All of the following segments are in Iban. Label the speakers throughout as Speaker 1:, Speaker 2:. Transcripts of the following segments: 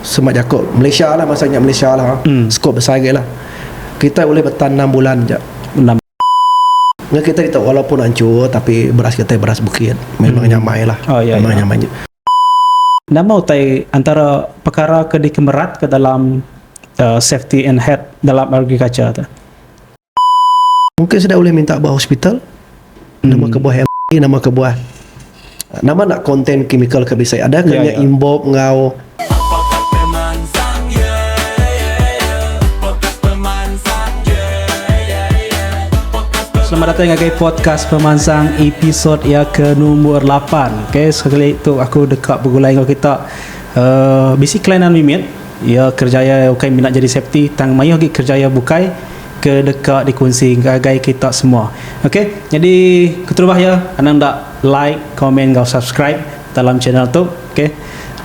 Speaker 1: Semak jaku Malaysia lah masa nya Malaysia lah sekup besai agi lah kitai ulih betan enam bulan ja
Speaker 2: ngah
Speaker 1: kitai ditu walaupun anchur tapi beras kitai beras bukit memang nyamai lah memang nyamai nya. Nama
Speaker 2: utai antara pekara ke dikemeratka dalam safety and health dalam agriculture tu?
Speaker 1: Mungkin sida ulih minta ba hospital nama kebuah LD nama kebuah nama enda konten kimikal ke bisi adakah Ya, nya ya. imbop enggau Podcast Pemansang Yeah Yeah Yeah Podcast
Speaker 2: Pemansang Yeah Yeah Yeah Podcast Pemansang Selamat datai ngagai podcast pemansang episod ia ke numbur 8. Okey, sekali tu aku deka begulai enggau kita uh, bisi kelainan mimit. Iya kerjaya ukai mina jadi safety tang mayuh agi kerjaya bukai ke deka dikunsi ngagai kita semua. Ok nyadi keterubah iya anang enda like, comment enggau subscribe dalam channel tu. Ok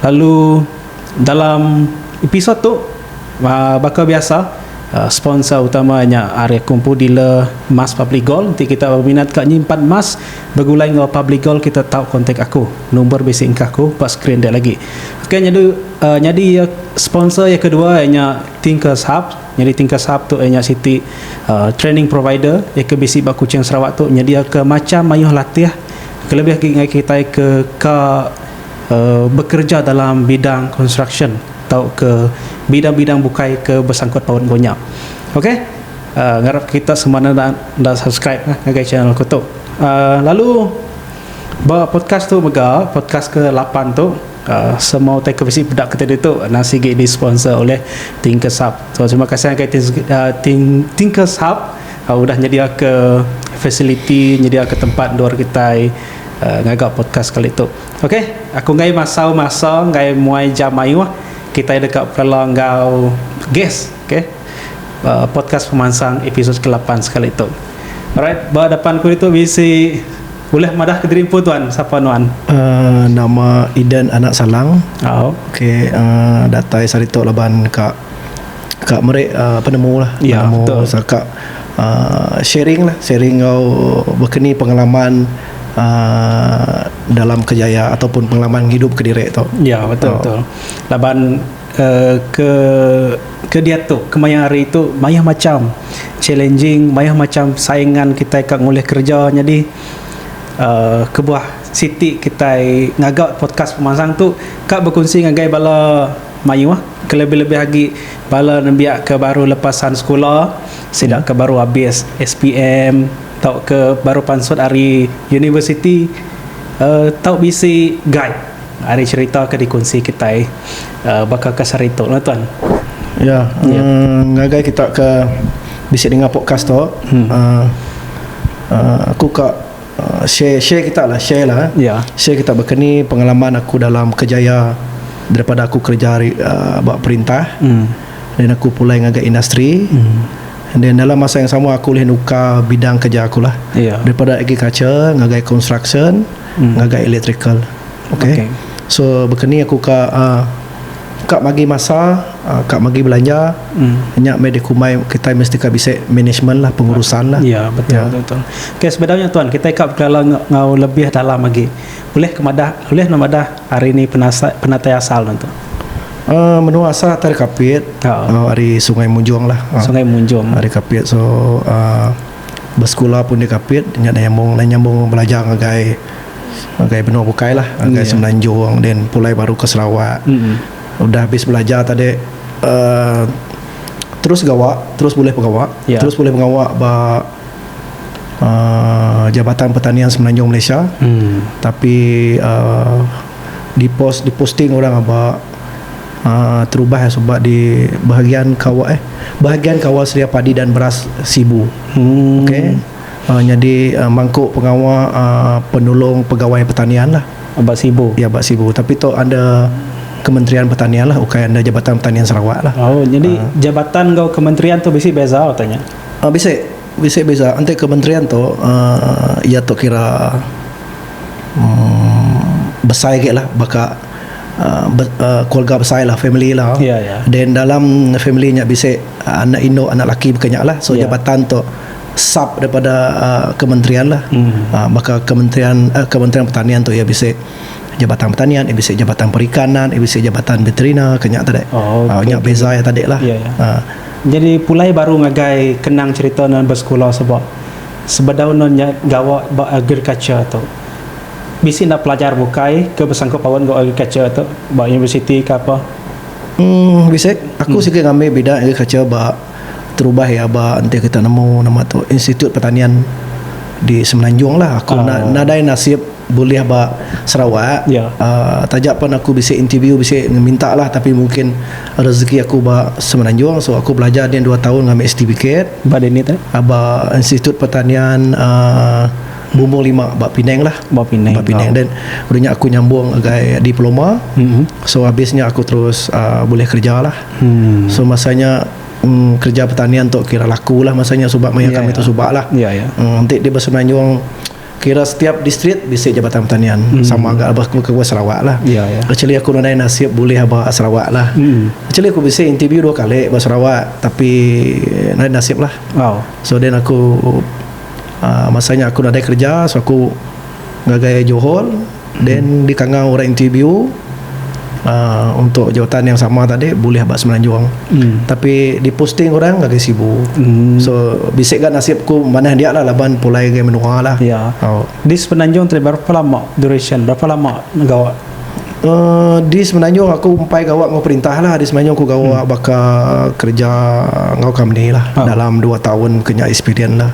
Speaker 2: lalu dalam episode tu uhh baka biasa sponsor utama nya ari aku empu dealer emas Public Gold. Enti kita berminat ka nyimpan emas begulai enggau Public Gold kita tau kontak aku. Number bisi engka aku ba screen dek lagi. Okay nyadu uh, nyadi uh, sponsor yang kedua ianya uh, Thinkers Hub. Nyadi Thinkers Hub tu ianya uh, siti uh, training provider yang ke bisi ba Kuching Sarawak tu nyedia ke macam mayuh latih kelebih lagi ngai kita ke ka uh, bekerja dalam bidang construction atau ke bidang-bidang bukai ke bersangkut paut engko nya. Okey. Uh, ngarap kita semua anda anda subscribe eh, ngagai channel aku tu. Uh, lalu Ba podcast tu mega, podcast ke lapan tu, semua utai ke bisi peda kitai ditu endang sigi di sponsor ulih Thinkers Hub. So terima kasih ngagai Thinkers Hub udah nyediaka fasiliti, nyediaka tempat endur kitai ngaga podcast kali tu. Ok, aku enggai masau masa enggai muai jam mayuh kitai deka pekala enggau guest. Okay. Uh, podcast pemansang episod ke-8 sekali tu. Alright, ba depan ku itu bisi boleh madah ke diri empu tuan, siapa nuan? Uh, nama
Speaker 1: Idan anak Salang. Oh. Okay, uh, datai saritok laban ka ka meri uh, penemu lah. Ya, penemu, betul. Saka uh, sharing lah, sharing kau berkeni pengalaman uh, dalam kejaya ataupun pengalaman hidup ke diri tu. Ya, betul, uh. betul.
Speaker 2: Laban Ke ke diatu kemaya hari tu mayuh macham challenging mayuh macham saingan kitai ka ngulih kereja nyadi kebuah siti kitai ngaga podcast pemansang tu ka bekunsi ngagai bala mayuh ke lebih-lebih agi bala nembiak ke baru lepasan sekula sida ke baru abis SPM tauka baru pansut ari universiti tau bisi guide. Ari cerita ke dikunsi kitai baka kes hari tu lah tuan.
Speaker 1: Ya, ngagai kita ke bisi dengar podcast tu, aku ka share share kita lah, share lah. Share
Speaker 2: kita baka ni
Speaker 1: pengalaman aku dalam kejaya daripada aku kereja ari ba perintah then aku pulai ngagai industri then dalam masa yang sama aku ulih nukar bidang kereja aku lah daripada agriculture ngagai construction. ngagai electrical okey okay. so bekeni aku ka uh, ka bagi masa uh, ka bagi belanja mm. nya mai dikumbai kita mesti ka bisi management lah pengurusan lah ya betul ya. betul
Speaker 2: okey sebenarnya tuan kita ka berkelala ngau lebih dalam lagi boleh kemadah boleh namadah hari ni penasai penatai asal tuan tu Uh, menua
Speaker 1: asal Tari Kapit uh, Hari Sungai Munjung lah uh, Sungai Munjung Hari
Speaker 2: Kapit So
Speaker 1: uh, Besekula pun dia kapit nya neh nyambung neh nyambung belajar ngagai ngagai benua bukai lah ngagai yeah. semenanjung then pulai baru ke Sarawak mm-hmm. udah habis belajar tadi uh, terus gawa terus boleh pengawa yeah. terus boleh pengawa ba uh, Jabatan Pertanian Semenanjung Malaysia mm. tapi uh, di post di posting orang ba terubah suba di bahagian kawa eh bahagian kawa sedia padi dan beras sibu okey Um nyadi Um mangku pengawa Um penulung pegawai pertanian lah ba sibu iya ba
Speaker 2: sibu tapi tu
Speaker 1: under kementerian pertanian lah ukai under jabatan pertanian Sarawak lah oh nyadi Um jabatan
Speaker 2: enggau kementerian tu bisi beza utai nya Um bisi. Bisi
Speaker 1: beza enti kementerian tu iya tu kira besai agi lah baka keluarga besai lah family iya lah then dalam family nya bisi anak indu anak laki baka nya lah so jabatan tu sub daripada kementerian lah baka kementerian kementerian pertanian tu iya bisi jabatan pertanian iya bisi jabatan perikanan iya bisi jabatan beterina ke nya tadi nya beza iya tadi lah. Nyadi
Speaker 2: pulai baru ngagai kenang cherita nuan besekula sebab sebedau nuan nya gawa ba agriculture tu. Bisi enda pelajar bukai ke besangkut paut enggau agriculture tu ba universiti ke apa? Uhh bisi.
Speaker 1: Aku sigi ngambi bidang agriculture ba terubah iya ba enti kita nemu nama tu Institut Pertanian di Semenanjung lah. Aku nadai nasib. bulih ba Sarawak yeah. uh, taja pun aku bisi interview bisi minta lah tapi mungkin rezeki aku ba Semenanjung so aku belajar dia 2 tahun ngambil sertifikat ba dini tu ah,
Speaker 2: ba Institut
Speaker 1: Pertanian uh, Bumbung lima ba Penang lah ba Penang ba Penang oh. dan
Speaker 2: udah
Speaker 1: aku nyambung agai diploma mm-hmm. so habisnya aku terus uh, boleh kerja lah mm. so masanya um, kerja pertanian tu kira laku lah masanya sebab maya yeah, kami yeah. tu ya. sebab lah yeah, ya. yeah. Um, nanti dia bersenanyung Kira setiap distrik bisi Jabatan Pertanian sama ga aba ku kebuah Sarawak lah. Actually aku nadai nasib bulih aba Sarawak lah. Actually aku bisi interview dua kali ba Sarawak tapi nadai nasib lah. So then aku masa nya aku nadai kerja so aku ngagai Johor. Then dikangau orang interview uh, untuk jawatan yang sama tadi boleh ba semenanjung. Hmm. Tapi diposting orang lagi sibu. Hmm. So bisik ga nasib ku manah dia lah laban pulai ke menua lah. Ya. Oh. Di
Speaker 2: semenanjung tadi berapa lama duration? Berapa lama gawa? Uh,
Speaker 1: di semenanjung aku umpai gawa ngau perintah lah. Di semenanjung aku gawa hmm. baka kerja ngau company lah. Oh. Dalam 2 tahun kena experience lah.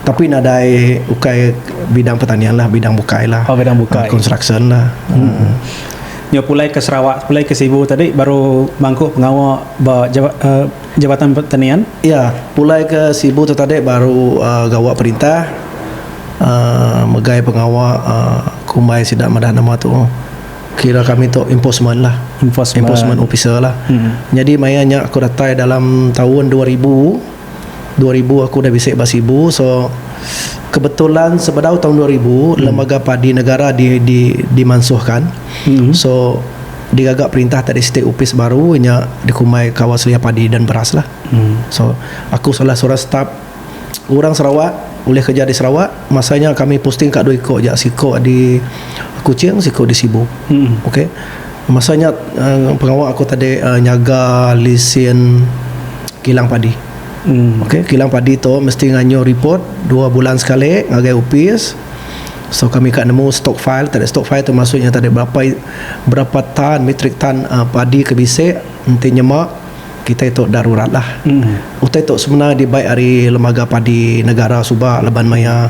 Speaker 1: Tapi nadai ukai bidang pertanian lah, bidang bukai lah. Oh, bidang bukai. Uh, construction
Speaker 2: lah.
Speaker 1: Hmm. Hmm.
Speaker 2: Nyo pulai ke Sarawak, pulai ke Sibu tadi baru mangku pengawa ba jaba, uh, Jabatan Pertanian. Ya, pulai
Speaker 1: ke Sibu tu tadi baru uh, gawa perintah uh, megai pengawa uh, kumbai sida madah nama tu. Kira kami tu enforcement lah. Enforcement, enforcement officer lah. Hmm. Jadi maya nya aku datai dalam tahun 2000 Dua ribu aku udah bisi ba Sibu so kebetulan sebedau taun dua ribu lembaga padi negara di di dimansuhkan so digaga perintah tadi siti opis baru nya dikumbai Kawal Selia Padi dan Beras lah so aku salah seorang staf orang Sarawak ulih kerja di Sarawak masa nya kami posting ka dua iko aja siko di Kuching siko di Sibu okay. Masa nya pengawa aku tadi nyaga lisin kilang padi. Okay kilang padi tu mesti ngayuh report dua bulan sekali ngagai opis so kami ka nemu stock file tadi stock file tu maksud nya tadi berapa berapa tan metric tan padi ke bisi enti nyema. Kitai tu enda rurat lah. Utai tu semina dibai ari lembaga padi negara suba laban maya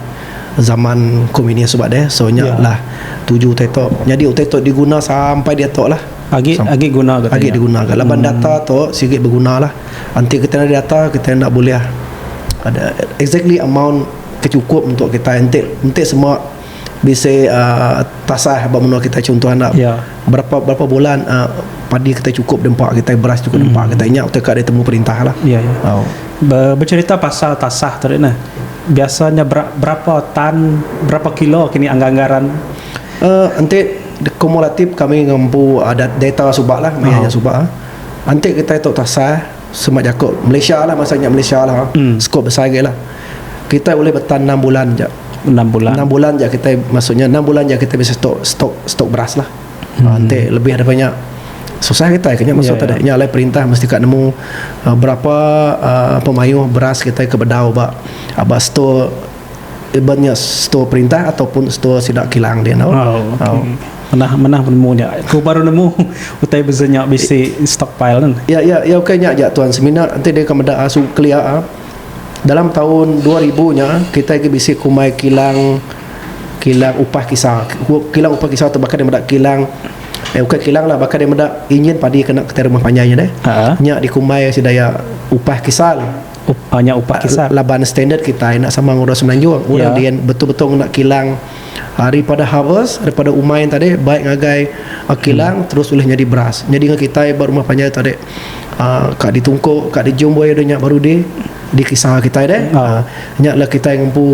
Speaker 1: zaman komunis suba deh. So nya lah tuju utai tu. Nyadi utai tu diguna sampai diatu lah. Agi agi guna
Speaker 2: ga agi diguna ga laban data
Speaker 1: tu sigi beguna lah. Enti kitai enda data kitai enda bulih ada exactly amount ke cukup untuk kitai enti enti semua bisi tasah ba menua kitai chunto enda berapa berapa bulan padi kitai chukup di empa kitai beras chukup di empa kitai nya utai ka ditemu perintah lah
Speaker 2: becerita pasal tasah tu ri neh biasa nya berapa tan berapa kilo kini anggar anggar ran enti
Speaker 1: kumulatif kami ngempu data suba lah maya nya suba enti kitai tu tasah. Semak jaku Malaysia lah masa nya Malaysia lah scope besai agi lah. Kitai ulih betan enam bulan ja. Enam bulan. Enam
Speaker 2: bulan ja kitai maksudnya
Speaker 1: enam bulan ja kitai bisi stok stok stok beras lah. Hmm. Enti lebih daripada nya susah kitai ke nya maksud yeah, tadi. Yeah. Nya alai perintah mesti ka nemu uh, berapa uh, pemayuh beras kitai ke bedau ba ba stok Iban nya setua perintah ataupun setua sida kilang dia endo. Oh, okay. Menah
Speaker 2: menah penemu nya. Aku baru nemu utai beza nya bisi stockpile kan. Ya ya ya okay nya aja
Speaker 1: tuan semina enti deka meda ah, su kelia ah. Dalam taun 2000 nya kitai agi bisi kumbai kilang kilang upah kisa. Kilang upah kisa tu baka dia meda kilang Eh bukan kilang lah baka dia meda injin padi kena kitai rumah panjai nya deh. Ha. Nya dikumbai sida ya upah kisal. Up, nya upah
Speaker 2: kisah. Laban standard kitai
Speaker 1: enda sama enggau orang semenanjung. Orang yeah. dian betul-betul ngena kilang ah, daripada harvest, daripada umai tadi baik ngagai ah, kilang hmm. terus boleh jadi beras. Jadi dengan kitai buat rumah panjai tadi ah, kak ditungkuk, kak dijumbai ada nya baru di di kisah kita deh. Hmm. Ah. Nya lah kita yang ngempu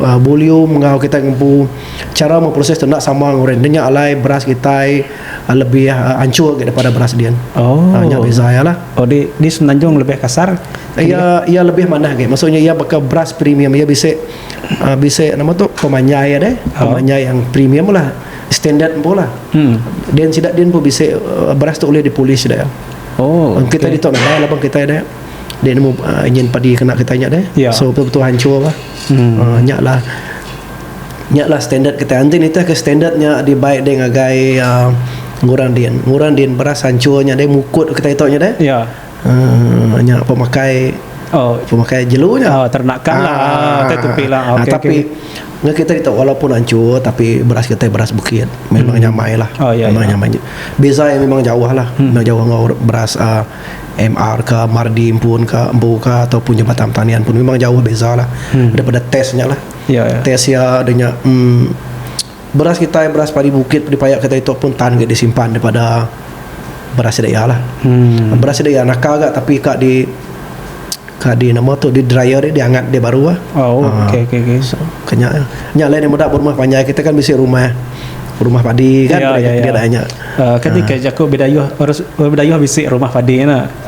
Speaker 1: ah, volume enggau kita ngempu cara memproses tu nak sama orang. Nya alai beras kita lebih anchur gak daripada beras dian oh nya beza ya lah oh di di semenanjung
Speaker 2: lebih kasar iya iya
Speaker 1: lebih manah gak maksudnya iya baka beras premium iya bisi uh, bisi nama tu pemanyai ada oh. pemanyai yang premium lah standard pun lah hmm. dan sidak din pun bisi uh, beras tu boleh dipolish dah oh okay. kita
Speaker 2: di tu lah lah
Speaker 1: kita ada dia nemu uh, ingin padi kena kita nya deh yeah. so betul-betul hancur
Speaker 2: lah
Speaker 1: hmm. uh, nya lah Nya lah standard kitai. Enti nitih ke standard nya dibai deh ngagai uh, ngurang din. Ngurang din beras hancur nya deh mukut kitai tu nya deh. Ya. Uh,
Speaker 2: nya
Speaker 1: pemakai Oh, pemakai jelu nya. Oh, ternakan lah.
Speaker 2: Ah, Kita tupi lah. Ah, Okey, tapi okey.
Speaker 1: ngah kita itu walaupun hancur tapi beras kita beras bukit memang hmm. nyamai lah. Oh, ya, memang ya. nyamai. Beza yang memang jauh lah. Hmm. Memang jauh dengan beras uh, ah, MR ke Mardi pun ke Embu ke ataupun Jabatan Pertanian pun memang jauh beza lah. Hmm. Daripada testnya lah. Ya, ya. Test iya ada nya um, beras kitai beras padi bukit padi paya kitai tu pun tan ga disimpan daripada beras sida iya lah. Hmm. Beras sida iya naka ga tapi ka di ka di nama tu di dryer dia diangat dia baru ah. Oh, uh, okey okey okey.
Speaker 2: So, kenya
Speaker 1: ya. nya lain yang muda berumah panjai kita kan bisi rumah rumah padi kan ya, ya, ya. dia dah nya. Uh, ah, kan uh. Ah. dikah jaku
Speaker 2: bidayuh orang bidayuh bisi rumah padi na.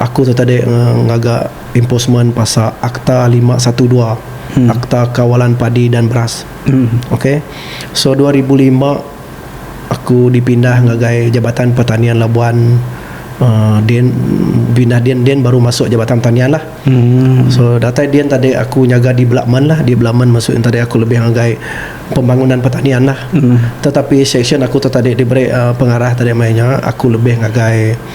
Speaker 1: aku tu tadi ngaga enforcement pasal akta lima satu dua akta kawalan padi dan beras ok so dua ribu lima aku dipindah ngagai jabatan pertanian labuan uhh din pindah din din baru masuk jabatan pertanian lah so datai din tadi aku nyaga development lah development maksud tadi aku lebih ngagai pembangunan pertanian lah tetapi section aku tu tadi diberi pengarah tadi maya nya aku lebih ngagai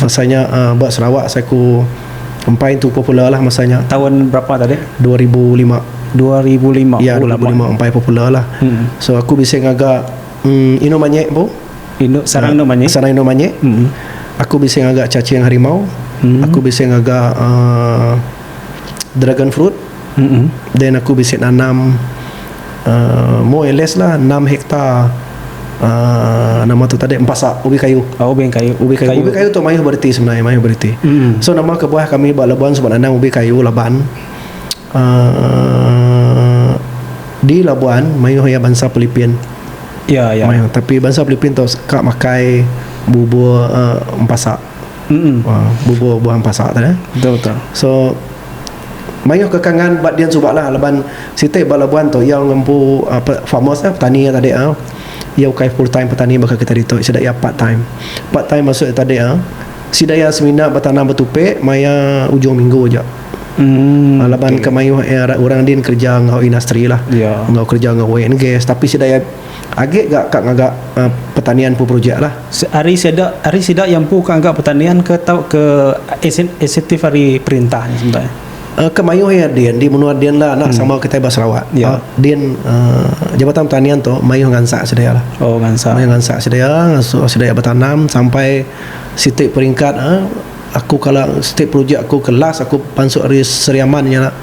Speaker 1: Masa nya ba Sarawak asai ku empai tu popular lah masa nya. Tahun berapa tadi?
Speaker 2: Dua ribu lima.
Speaker 1: Dua ribu lima. Ya, dua ribu lima empai popular lah. Hmm. So aku bisi ngaga um, Inu Manyek bu. Inu sarang Inu
Speaker 2: Manyek. Sarang Inu Manyek. Hmm.
Speaker 1: Aku bisi ngaga cacing harimau. Hmm. Aku bisi ngaga uh, dragon fruit. Then aku bisi nanam uhh more or less lah enam hektar uhh nama tu tadi empasa ubi kayu. Oh ubi kayu. Ubi kayu. Ubi kayu tu mayuh bereti sebenarnya mayuh bereti. Mm. So nama kebuah kami ba Labuan suba nanam ubi kayu laban uhh di Labuan mayuh iya bansa Philippine. Ya ya. Mayuh tapi bansa Philippine tu suka makai bubur uhh empasa. Mm. Uhh bubur buah empasa tu. Betul betul. So Mayuh ke kangan ba dian suba lah laban siti ba Labuan tu iya ngempu farmers lah petani iya tadi iya ukai full time petani baka kita ditu sida iya part time. Part time maksud iya tadi sida iya semina betanam betupi maya ujung minggu aja laban ke mayuh orang din kerja enggau industri lah enggau kerja enggau oil and gas tapi sida iya Agi ga ka ngaga pertanian empu projek lah. Ari sida
Speaker 2: ari sida iya empu ka ngaga pertanian ke tauka insentif ari perintah nya sebenar? Ke mayuh iya
Speaker 1: din di menua din lah anak sama kitai ba Sarawak din jabatan pertanian tu mayuh ngansak sedia lah. Mayuh ngansak sedia ngasuh sedia betanam sampai siti peringkat aku kala siti projek aku ke last aku pansut ari Sri Aman nya.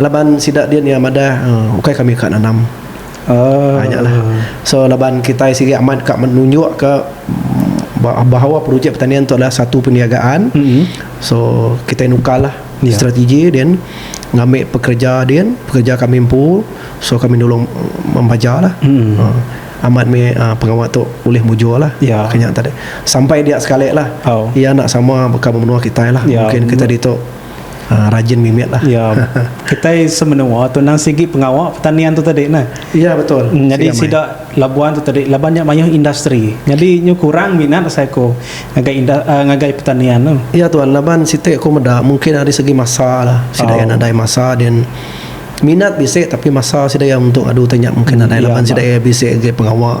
Speaker 1: Laban sida din iya madah ukai kami ka nanam. Aaa nya lah. So laban kitai sigi amat ka nunjuk ka bahawa projek pertanian tu adalah satu perniagaan. So kitai nukar lah strategi din ngambi pekereja din, pekereja kami empu so kami nulung membaja lah. Amat mih pengawa tu ulih mujur lah ka nya tadi. Sampai dia sekali lah iya enda sama baka menua kitai lah. Mungkin kitai ditu. Ah, rajin mimit lah. Ya. Kitai
Speaker 2: semenua tu nang sigi pengawa pertanian tu tadi nah. Ya betul. Hmm, jadi
Speaker 1: sida
Speaker 2: Labuan tu tadi laban nya mayuh industri. Jadi nyu kurang minat asai ku ngagai indah, uh, ngagai pertanian tu. Ya tuan, laban siti
Speaker 1: aku meda mungkin ari segi masa lah. Sida oh. nadai masa dan minat bisi tapi masa sida ya untuk adu tanya mungkin hmm, nadai ya, laban sida ya bisi ngagai pengawa.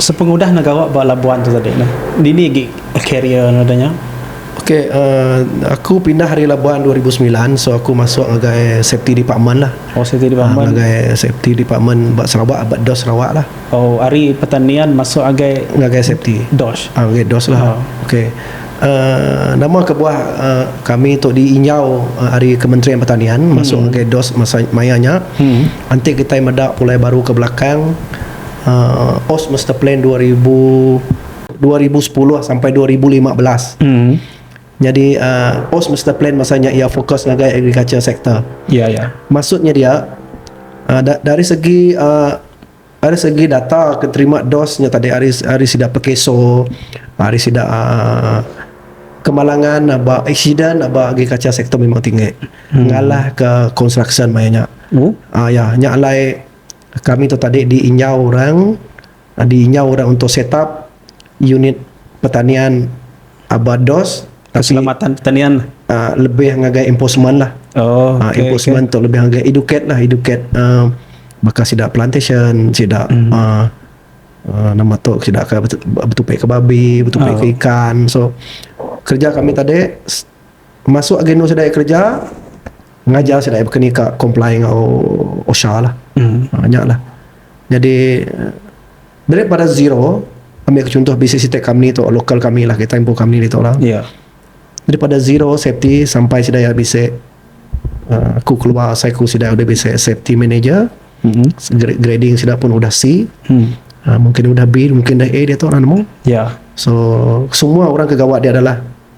Speaker 2: Sepengudah ne gawa ba labuan tu tadi ne, dini agi career ne udah nya? Ok,
Speaker 1: aku pindah ari labuan dua ribu semilan, so aku masuk ngagai safety department lah. Oh, safety department. Uhh ngagai
Speaker 2: safety
Speaker 1: department ba Sarawak, ba DOSH Sarawak lah. Oh, ari pertanian
Speaker 2: masuk ngagai ngagai safety. DOSH. Uhh
Speaker 1: ngagai DOSH
Speaker 2: lah. Uhh.
Speaker 1: Ok. Uhh nama kebuah uhh kami tu di injau ari kementerian pertanian masuk ngagai DOSH masa maya nya. Enti kitai meda pulai baru ke belakang, uh, OS Master Plan 2000 2010 sampai 2015. Hmm. Jadi uh, OS Master Plan masanya ia fokus ngagai agriculture sector. Ya, ya. Maksudnya
Speaker 2: dia
Speaker 1: uh, da, dari segi uh, dari segi data keterima dosnya tadi hari hari sida pekeso, hari sida uh, kemalangan aba accident aba agriculture sector memang tinggi. Hmm. Ngalah ke construction mayanya. Oh. Uh, ya, nya alai Kami tu tadi di inyau orang di inyau orang untuk set up unit pertanian aba dos keselamatan pertanian
Speaker 2: lebih ngagai
Speaker 1: enforcement lah enforcement tu lebih ngagai educate lah educate baka sida plantation sida nama tu sida ke betupai ke babi betupai ke ikan so kerja kami tadi Masuk agenda sedaia kereja ngajar sedaia baka ni ka comply enggau OSHA lah. Nya lah. Nyadi daripada zero ambil ke chuntoh bisi siti company tu local kami lah kita ibuh company ditu lah. Daripada zero safety sampai sedaia bisi uhh aku keluar asai ku sida udah bisi safety manager grading sida pun udah C mungkin udah B mungkin udah A ditu lah nemu. So semua orang ke gawa dia adalah.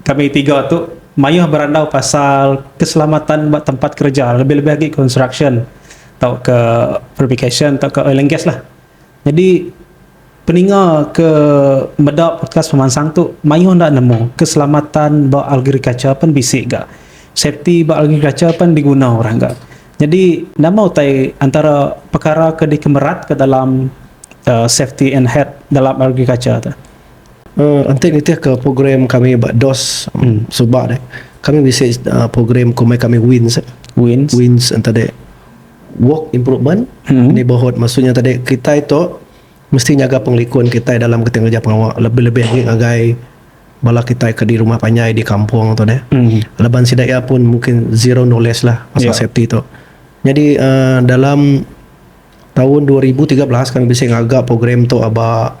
Speaker 2: Kami tiga tu mayuh berandau pasal keselamatan ba tempat kereja lebih-lebih agi construction tauka fabrication tauka oil and gas lah. Nyadi peninga ke meda podcast pemansang tu mayuh enda nemu keselamatan ba agriculture pen bisi ga safety ba agriculture pen diguna orang ga. Nyadi nama utai antara pekara ke dikemerat ke dalam uhh safety and health dalam agriculture tu. Enti
Speaker 1: nitih ke program kami ba dos suba deh kami bisi program ke mai kami wins wins tadi work improvement neighbourhood maksud nya tadi kitai tu mesti nyaga pengelikun kitai dalam kitai ngereja pengawa lebih lebih agi ngagai bala kitai ke di rumah panjai di kampung tu deh laban sida iya pun mungkin zero knowledge lah pasal safety tu nyadi uhh dalam taun dua ribu tiga belas kami bisi ngaga program tu aba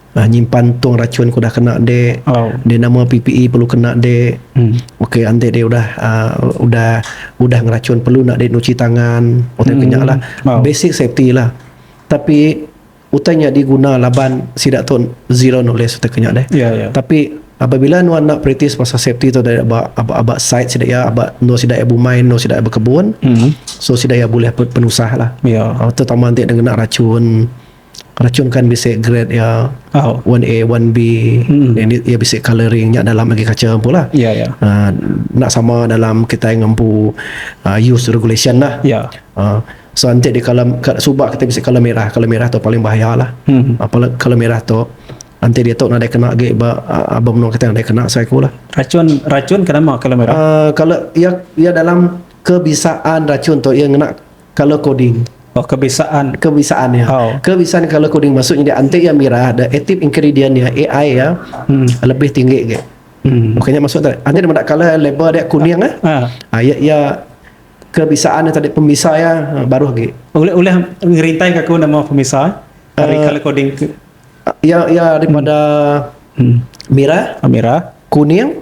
Speaker 2: Ah nyimpan tong rachun ke udah kena dek. Oh. Dek nama PPE perlu kena dek. Hmm. Okey ande dek udah uh, udah udah ngerachun perlu nak dek nuci tangan. Utai hmm. kenyak lah. Oh. Basic safety lah. Tapi utai nya diguna laban sida tu zero knowledge utai kenyak dek. Yeah, yeah. Tapi apabila nuan nak practice pasal safety tu dari aba aba, aba site sida ya aba no sida ya bumai no sida ya berkebun. Hmm. So sida ya boleh penusah lah. Yeah. Ya. Uh, terutama ande dengan rachun. Rachumkan bisi grade iya one A one B iya bisi colouring nya dalam agi kaca empu lah enda sama dalam kitai ngempu use regulation lah so
Speaker 1: enti suba kitai bisi colour merah colour merah tu paling bahaya lah colour merah tu enti diatu nadai kena agi ba aba menua kitai nadai kena asai ku lah
Speaker 2: colour
Speaker 1: iya dalam kebisaan rachum tu iya ngena Color coding. Oh kebisaan.
Speaker 2: Kebisaan iya. Oh.
Speaker 1: Kebisaan
Speaker 2: color coding
Speaker 1: maksud nyadi anti iya mira the active ingredient iya AI iya hmm. lebih tinggi agi. Hmm. Bukannya maksud tadi. Anti dia meda color label dia kuning ah. Ha. Ah iya iya kebisaan tadi pembisa iya ah, baru agi. Oleh oleh
Speaker 2: ngerintai ke aku nama pembisa dari uh, color coding. Iya
Speaker 1: iya daripada hmm. hmm. mira, ah, mira, kuning,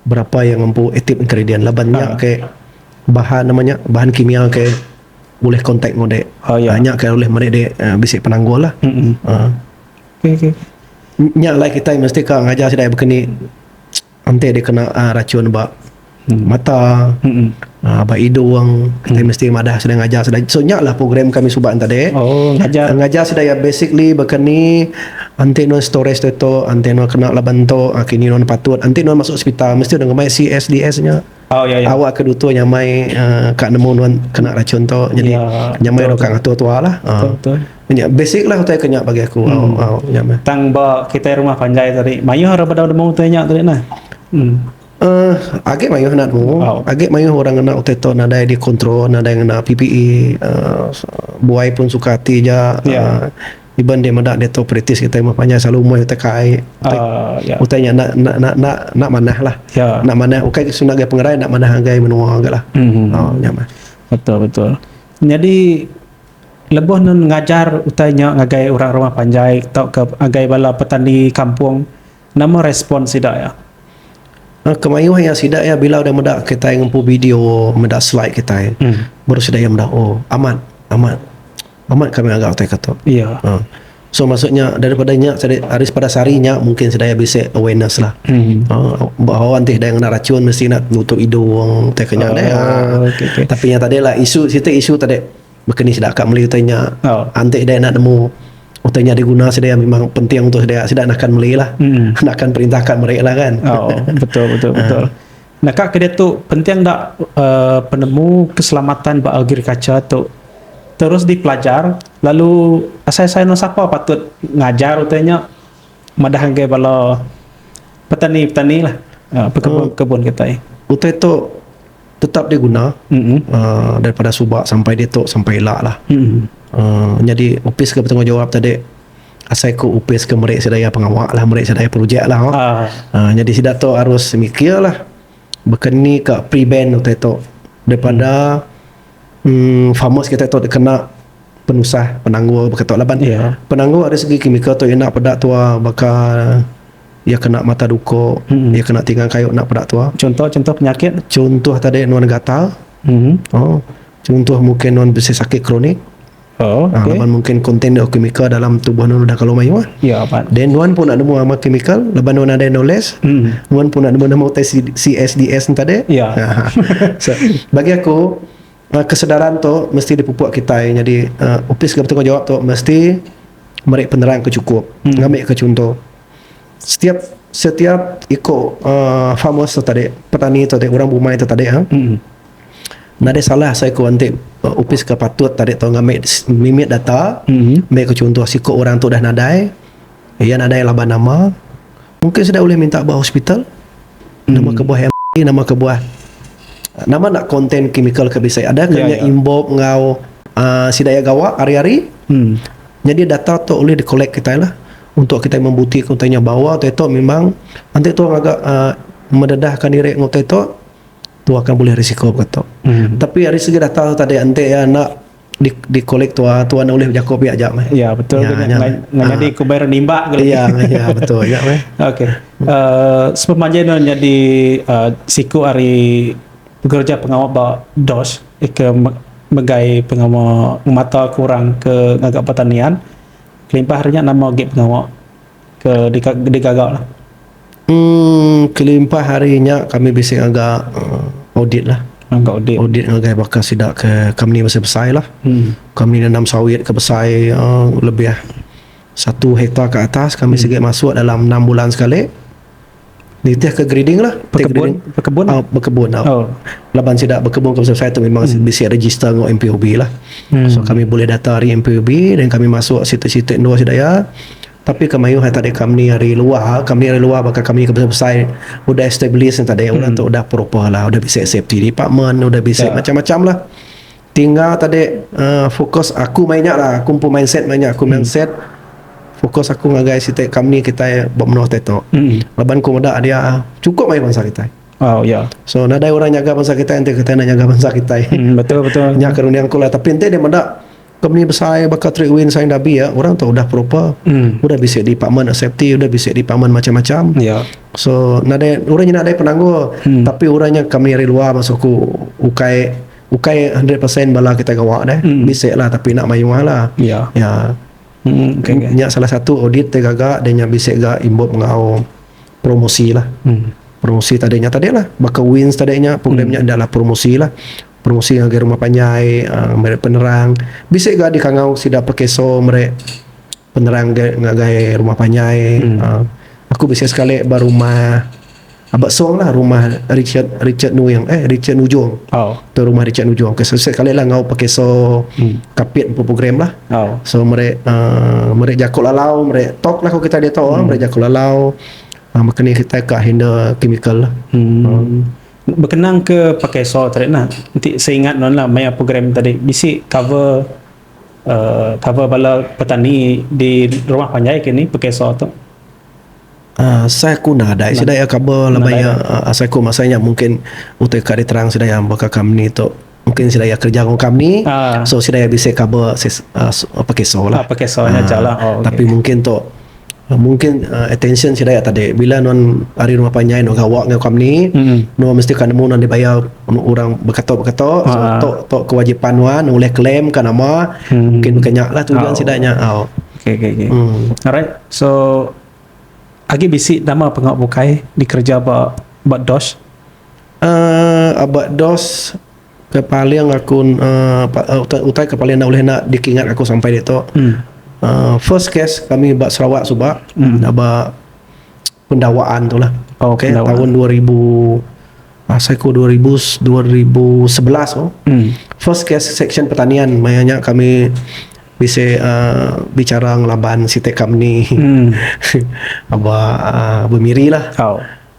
Speaker 1: Berapa iya ngempu active ingredient laban nya ke bahan nama nya bahan kimia ke ulih contact enggau dek uhh nya ke ulih meri dek bisi penanggul lah
Speaker 2: uhh
Speaker 1: nya alai kitai mesti ka ngajar sida iya bekeni enti dikena racun ba mata. Ba indu wang kitai mesti madah sida ngajar sida so nya lah program kami suba nya tadi ngajar sida iya basically baka ni enti nuan storage diri tu enti nuan kena laban tu kini nuan patut enti nuan masuk hospital mesti nuan ngemai CSDS nya awak ke dutur nyamai ka nemu nuan kena rachun tu nyadi nyamai dau ka ngatur tuwa lah nya
Speaker 2: basic lah utai
Speaker 1: ku nya bagi aku tang ba kitai
Speaker 2: rumah panjai tadi mayuh ra bedau nemu utai nya tadi nah. Uh,
Speaker 1: agi mayuh anak tu. Wow. Agi mayuh orang ngena utai tu nadai di kontrol, nadai ngena PPE. Uh, buai pun suka ati ja. Yeah. Ya. Uh, iban dia meda dia tu kritis kita mah panjang selalu umai utai kai. Utai, uh, yeah. Ya. utai nya nak nak nak nak na manah lah. Yeah. Nak manah ukai okay, sungai pengerai nak manah agai menua agai lah. Mm-hmm. Oh, nya mah. Betul betul.
Speaker 2: Jadi lebuh nun ngajar utai nya ngagai orang rumah panjai tau ke agai bala petani kampung Nama respon sida iya? A.
Speaker 1: Kemayuh iya sida iya bila udah meda kitai ngempu video, meda slide kitai, baru sida iya meda, oh amat, amat, amat kami ngaga utai ka tu. Iya. Ha. So maksud nya daripada nya sadi ari sepada sehari nya mungkin sida iya bisi awareness lah. Ha. Bahawa enti sida iya ngena rachun mesti ngena nutup idung utai ka nya deh. Ha. Tapi nya tadi lah isu siti isu tadi Baka ni sida ka meli utai nya anti daya enda nemu utai nya diguna sedia memang penting untuk sedia. Sida nakan meli lah. Nakan perintah ka meri lah kan. Oh betul betul
Speaker 2: betul. Naka ke diatu penting enda uhh penemu keselamatan ba agriculture tu terus dipelajar lalu asai asai anu sapa patut ngajar utai nya madah ngagai bala petani petani lah. Pekebun pekebun kitai. Utai tu.
Speaker 1: Tetap dia guna uh, daripada suba sampai ditu sampai ila lah. Uh, nyadi opis ke bertanggungjawab tadi asai ku opis ke meri sida iya pengawa lah meri sida iya projek lah. Oh. Ah. Uh, nyadi sida tu harus mikir lah baka ni ka prevent utai tu daripada mm, farmers kita tu dikena penusah penanggul baka tu laban Yeah. penanggul dari segi kimikal tu ina peda tua baka Iya kena mata duko, iya kena tinga kayu enda peda tua. Chunto chunto penyakit.
Speaker 2: Chunto tadi nuan
Speaker 1: gatal. Oh. Chunto mungkin nuan bisi sakit kronik. Oh. Okay. Laban mungkin kontiner kimikal dalam tubuh nuan udah kalu mayuh. Ya yeah, Then nuan pun enda nemu ama kimikal laban nuan ada knowledge. Mm. Nuan pun enda nemu nama utai CSDS tadi. Ya. Yeah. so, bagi aku Kesedaran tu mesti dipupuk kitai nyadi opis ke betanggungjawap tu mesti meri penerang ke chukup ngambika chunto setiap setiap iku farmers tu tadi petani tu tadi orang bumai tu tadi nadai salah seiku enti opis ke patut tadi tu ngambi mimit data meri ke chunto siku orang tu dah nadai Iya nadai laban nama. Mungkin sida ulih minta ba hospital. Nama kebuah MRI, nama kebuah nama enda konten kimikal ke bisi. Adakah nya involve enggau uhh sida iya gawa ari-ari. Nyadi data tu ulih di collect kitai lah untuk kitai membuktika utai nya bawa utai tu memang enti tu ngaga uhh mendedahka diri enggau utai tu, tu akan bulih risiko baka tu. Tapi ari segi data tu tadi enti iya enda. di di kolek tua tua enda ulih bejako pia aja meh. Ya betul ya, nya meh.
Speaker 2: Nganyadi ah. kubai renimba gali. Ya meh ya betul nya
Speaker 1: meh. Okey.
Speaker 2: Uh, sepemanja no nyadi uh, siku ari pekerja pengawa ba DOS ke megai pengawa ngemata ke orang ke ngaga pertanian kelimpah nya nama agi pengawa ke digaga lah. Umm kelimpah
Speaker 1: ari nya kami bisi ngaga audit lah. Audit
Speaker 2: ngagai baka sida
Speaker 1: ke company besai-besai lah. Company nanam sawit ke besai uhh lebih satu hektar ke atas kami sigi masuk dalam enam bulan sekali nitih ke grading lah. Bekebun uhh bekebun uhh laban sida bekebun ke besai-besai tu memang bisi register enggau MPOB lah. So kami bulih data ari MPOB then kami masuk siti-siti endur sida iya. Tapi ke mayuh ai tadi company ari luar, company ari luar baka company ke besai-besai udah establish nya tadi orang tu udah proper lah, udah bisi safety department, udah bisi macam-macam lah. Tinggal tadi uhh fokus aku maya nya lah, aku empu mindset maya nya, aku mindset fokus aku ngagai siti company kitai ba menua kitai tu. Laban ku meda dia chukup mayuh bansa kitai. So
Speaker 2: nadai orang nyaga
Speaker 1: bansa kitai enti kitai enda nyaga bansa kitai. Nya
Speaker 2: ke runding aku
Speaker 1: lah tapi enti dia meda. Company besai baka Trade Wind Saing Dabi ya orang tu udah proper. Udah bisi department of safety, udah bisi department macam-macam. Ya. So
Speaker 2: nadai
Speaker 1: orang nyina nadai penanggul tapi orang nya company ari luar maksud aku ukai ukai 100% bala kita gawa deh. Bisi lah tapi enda mayuh lah. Ya. Ya.
Speaker 2: Mm,
Speaker 1: okay, okay. Nya salah satu audit ti gaga dia nya bisi ga imbut enggau promosi lah. Promosi tadi nya tadi lah baka wins tadi nya program nya adalah promosi lah. Pengusi ngagai rumah panjai meri penerang. Bisi ga dikangau sida pekeso meri penerang ngagai rumah panjai. Aku bisi sekali ba rumah aba song lah rumah Richard Richard Nuing eh Richard Nujong tu rumah Richard Nujong ke siti sekali lah ngau pekeso kapit empu program lah. So meri uhh meri jaku lalau meri talk lah ku kitai ditu meri jaku lalau meka ni kitai ka handle chemical.
Speaker 2: Bekenang ke pakai soal tadi nah, enti seingat nuan lah maya program tadi bisi cover uhh cover bala petani di rumah panjai ke ni pakai soal tu. Uhh
Speaker 1: asai aku nadai sida iya cover laban iya asai aku masa nya mungkin utai ka diterang sida iya baka company tu. Mungkin sida iya kerja enggau kami. Uh. So sida iya bisi cover ses, uh, uh, pakai so lah. Uh, pakai so nya uh, lah. Oh, okay.
Speaker 2: Tapi mungkin tu uh,
Speaker 1: mungkin uh, attention sida iya tadi bila non hari rumah panjai non gawa enggau kami, mm. non mesti kan nemu non dibayar orang berkata-berkata. Uh. So tu tu kewajipan nuan oleh claim kan nama. Mm. Mungkin bukannya lah tujuan oh. sida nya. Oh. Okay, okay, okay.
Speaker 2: Mm. Alright. So Agi bisi nama pengau bukai dikerja ba ba DOSH Aaa aba dos ke paling aku aaa utai ke paling enda ulih enda dikingat aku sampai ditu aaa first case kami ba Sarawak suba aba pendawaan tu lah okay taun dua ribu asai ku dua ribu dua ribu sebelas tu first case seksyen pertanian maya nya kami bisi aaa bicara ngelaban siti company aba aaa Bemiri lah.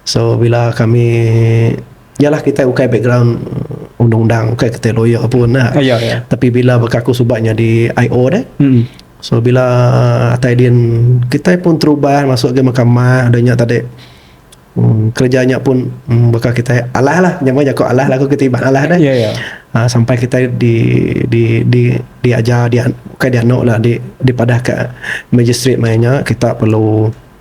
Speaker 2: So bila kami yalah kitai ukai background undang undang ukai kitai lawyer pun nah. Ah, ya, ya. Tapi bila baka aku suba nyadi IO deh. Hmm. So bila atai din kitai pun terubah masuk ke mahkamah dah nya tadi. Hmm, kerja nya pun hmm, baka kitai alah lah nyamai jaku alah lagu kita iban alah deh. Ya, ya. Ah, sampai kitai di di di diajar dia ukai dianu lah di dipadah ke magistrate mai nya kita perlu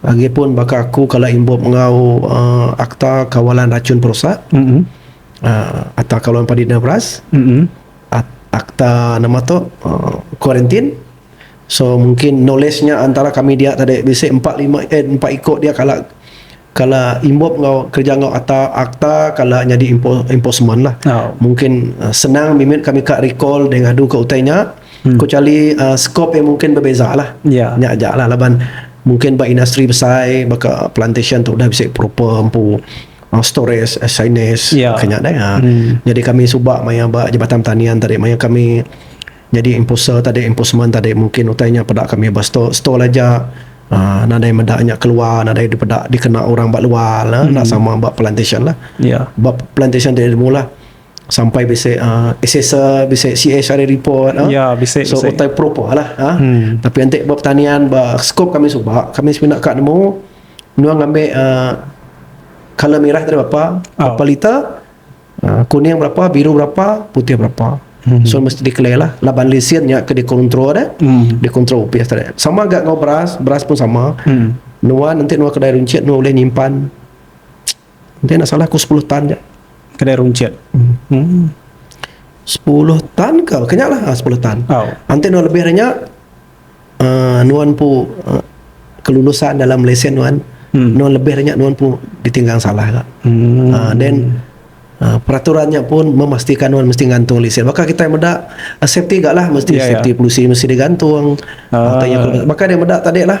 Speaker 1: Agi pun baka aku kala imbup enggau akta kawalan rachun perusak, akta kawalan padi dina beras, akta nama tu kuarantin. So mungkin knowledge nya antara kami dia tadi bisi empat lima empat iko dia kala kala imbup enggau kerja enggau akta akta kala nyadi enforcement lah. Mungkin senang mimit kami ka recall dei ngadu ka utai nya. Kecuali uh, skop yang mungkin berbeza lah. Ya. Yeah. Nya aja lah laban mungkin ba industri besai baka plantation tu dah bisi proper empu uh, storage, uh, signage, yeah. kena dah. Ya. Hmm. Jadi kami suba maya ba Jabatan Pertanian tadi maya kami jadi imposter tadi imposment tadi mungkin utainya pada kami ba store store aja Uh, nadai meda nya keluar nadai dipeda dikena orang ba luar lah hmm. nak sama ba plantation lah yeah. ba plantation
Speaker 2: dia
Speaker 1: mula Sampai bisi uh, SSR, bisi CSR report. Uh. Ya, bisi. So, bisi.
Speaker 2: utai propa lah.
Speaker 1: Uh. Hmm. Tapi nanti buat pertanian, buat skop kami suba, kami semina kak nemu, nuang ngambil uh, color merah dari berapa, oh. berapa liter, uh, kuning berapa, biru berapa, putih berapa. Hmm. So, mesti declare lah. Laban lesen ni ke dikontrol dah. Hmm. Dikontrol UPS tadi. Sama agak dengan beras, beras pun sama. Hmm. Nuang nanti nuang kedai runcit, nuang boleh nyimpan Enti enda salah ku sepuluh tan ja kedai runcit. Hmm. Sepuluh tan ke? Kenya lah ah, sepuluh tan. Oh. Enti nuan lebih dari nya uh, nuan pu uh, kelulusan dalam lesen nuan hmm. nuan lebih dari nya nuan pu ditinggang salah ka. Hmm. Uh, then Uh, peraturannya pun memastikan nuan mesti gantung lesen. Maka kita yang meda uh, safety gak lah mesti yeah, ya. safety yeah. polisi mesti digantung. Uh, uh, maka dia meda tadi lah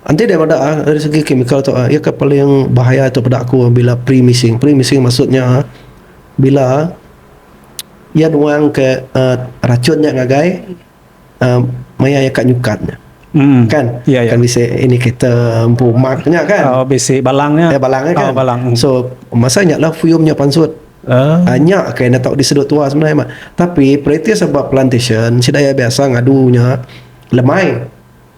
Speaker 1: Enti daripada ari segi kimikal tu iya ke paling bahaya tu peda aku bila pre missing. Pre missing maksud nya bila iya nuang ke uhh rachun nya ngagai uhh maya iya ka nyukat nya kan kan bisi indicator empu mark nya kan balang nya
Speaker 2: kan
Speaker 1: so
Speaker 2: masa nya
Speaker 1: lah fume nya pansut uhh nya ke enda tau disedu tua sebenarnya meh tapi periti seba plantation sida iya biasa ngadu nya lemai.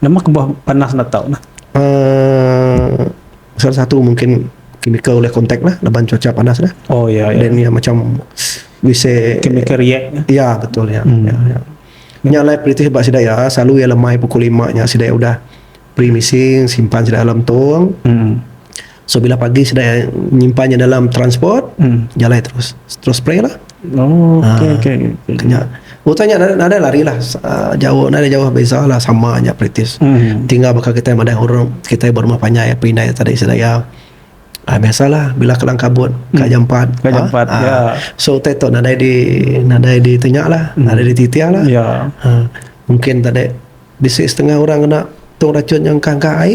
Speaker 1: Nama kebuah
Speaker 2: panas enda tau nah?
Speaker 1: Uh, salah satu mungkin chemical oleh contact lah laban cuaca panas lah. Oh ya. Yeah, Dan yeah. ya macam we say chemical react.
Speaker 2: Lah. Ya yeah, betul ya.
Speaker 1: Yeah. Hmm. Yeah, yeah. Nya lai peritih ba sida ya, selalu ya lemai pukul 5 nya sida udah pre-missing, simpan sida dalam tong. Hmm. So bila pagi sida nyimpan nya dalam transport jalai terus terus spray lah. Oh, Ah, okey okey.
Speaker 2: okey. Kena.
Speaker 1: Utai nya nada, nada lari lah. Ah, jauh nada jauh beza lah sama nya praktis. Hmm. Tinggal baka kita madah orang kita berumah panjai apa indai tadi sedaya. Ah, biasalah bila kelang kabut ka jam 4. Ka jam empat, ya. Hmm. So utai tu nadai di nadai di tenya lah, nadai di titiah lah. Ya. Ha, mungkin tadi bisi setengah orang kena tong racun yang kangkah ai.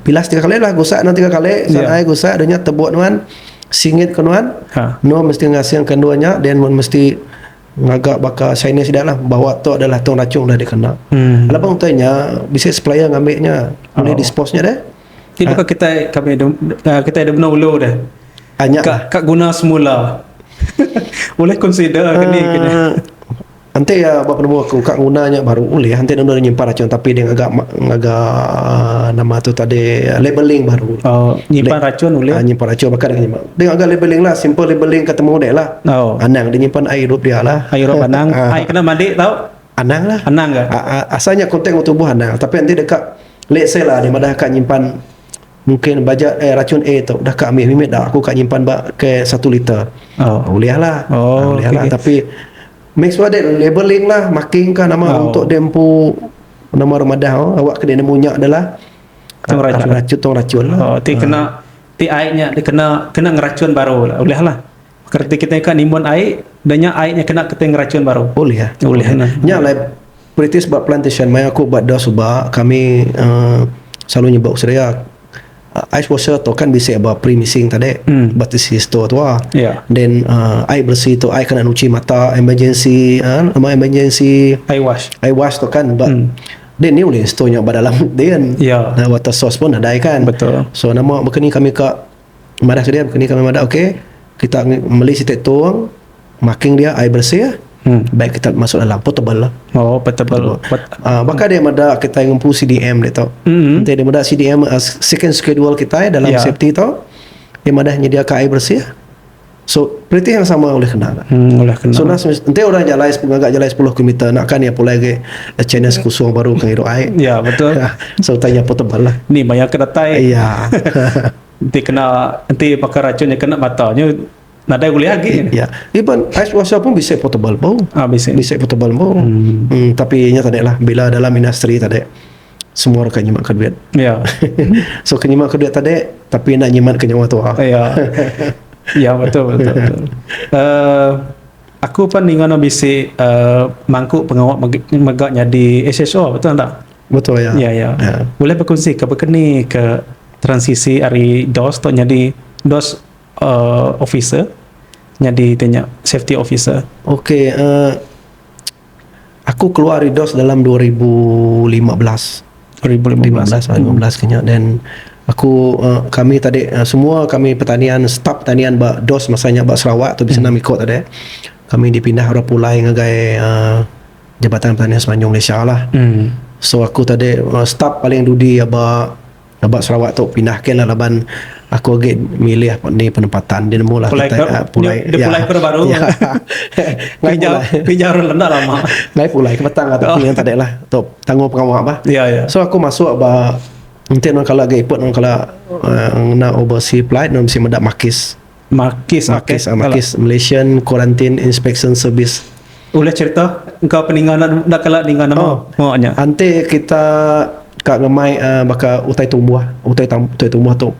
Speaker 1: Pilas tiga kali lah gusak nuan tiga kali san ai gusak dah nya tebuk nuan singit ke nuan nuan mesti ngasing ke endur nya then nuan mesti ngaga baka chinese sida lah bawa tu adalah tung rachung dah dikena laban utai nya bisi supplier ngambi nya nulih dispose nya deh
Speaker 2: nya lah. Enti iya
Speaker 1: ba penemu aku ka nguna nya baru ulih enti nemu nyimpan racun tapi deh ngaga ngaga nama tu tadi labeling baru. Oh, nyimpan racun
Speaker 2: ulih. Ah, nyimpan racun baka deh nyimpan.
Speaker 1: Deh ngaga labeling lah, simple labeling ka temu deh lah. Oh. Anang deh nyimpan ai irup dia lah. Ai irup anang, ai
Speaker 2: kena mandi tau. Anang lah. Anang
Speaker 1: ga. Asal
Speaker 2: nya konten enggau
Speaker 1: tubuh anang tapi enti deka let's say lah deh madah ka nyimpan Mungkin baja eh racun A tu udah ka ambi mimit dah aku ka nyimpan ba ke satu liter. Oh. Ulih lah. Oh, ah, ulih okay. lah tapi make sure that labeling lah marking ka nama oh. untuk dia empu nama remadah oh. awak kena nemu nyak dia lah. Tong ah, racun. Racun tong racun lah. Oh, ti kena ah. ti ai
Speaker 2: nya dia kena kena ngeracun baru lah. Ulih lah. Kereti kitai ka nimbun ai, da nya ai nya kena kitai ngerachun baru. Ulih. Ulih nya.
Speaker 1: Nya alai British ba plantation mai aku ba da suba kami uhh selalu nyebut Australia uhh ice washer tu kan bisi ba pre missing tadi ba tisi store tua then uhh ai beresi tu ai kena nuchi mata emergency uhh
Speaker 2: nama
Speaker 1: emergency ai wash
Speaker 2: tu kan
Speaker 1: ba dia nih ulih store nya ba dalam din water source
Speaker 2: pun nadai
Speaker 1: kan so nama baka
Speaker 2: ni kami
Speaker 1: ka Madah ke dia baka ni kami madah ok kita meli siti tong making dia air bersih baik kita masuk dalam portable lah. Oh, portable.
Speaker 2: Uh, baka dia
Speaker 1: mada kita ngempu CDM dia tu. Mm-hmm. Dia mada CDM uh, second schedule kita dalam yeah. safety tu. Dia madah nyediakan air bersih. So perintih yang sama ulih kena ga. Hmm, ulih kena. So nas
Speaker 2: enti orang jalai
Speaker 1: ngaga jalai 10 kilometer nak kan ia pulai ke eh, channel sekusung baru ke ngirup ai. Ya, betul.
Speaker 2: so tanya portable
Speaker 1: lah. Ni maya ke datai.
Speaker 2: Ya.
Speaker 1: enti kena enti
Speaker 2: pakai racun nya kena mata nya nadai ulih agi. Ya. Even
Speaker 1: ice washer pun bisa portable bau. Ah, bisa. Bisa portable bau. Hmm. hmm tapi nya tadi lah bila dalam industri tadi. Semua orang ka nyimat ka duit. Ya.
Speaker 2: so ka nyimat
Speaker 1: ka duit tadi tapi enda nyimat ka nyawa tua. Ya.
Speaker 2: ya betul betul. betul. Uh, aku pun ninga no bisi uh, mangku pengawa mega nyadi SSO betul enda? Betul ya. Ya ya. ya.
Speaker 1: Boleh
Speaker 2: berkongsi ke berkeni ke transisi dari DOS tu nyadi DOS uh, officer nyadi tanya safety officer. Okey, uh,
Speaker 1: Aku keluar ari dos dalam dua ribu lima belas, dua ribu lima belas lah, lima belas ke nya dan aku uh, kami tadi uh, semua kami pertanian staf pertanian ba dos masa nya ba Sarawak tu bisena hmm. miko tadi kami dipindah orang pulai ngagai uh, Jabatan Pertanian Semenanjung Malaysia lah. Hmm. So aku tadi uh, staf paling dudi aba Sabab Sarawak tu pindah ke lah laban aku agi milih eni penempatan dia nemu lah kitai pulai iya
Speaker 2: dia pulai ke orang baru ngai pulai ngai jau orang enda lama ngai pulai ke batang
Speaker 1: atu yang tadi lah tu tanggung pengawa bah so aku masuk
Speaker 2: ba
Speaker 1: enti orang kala agi iput orang kala ngena oversea flight mesti meda makis. Makis Makis Makis Malaysian Quarantine Inspection Service. Ulih cerita
Speaker 2: engka peninga enda enda kala ninga nama oh, oh nya. Ante kita
Speaker 1: ka ngemai uh, baka utai tumbuh, utai tam, utai tumbuh tu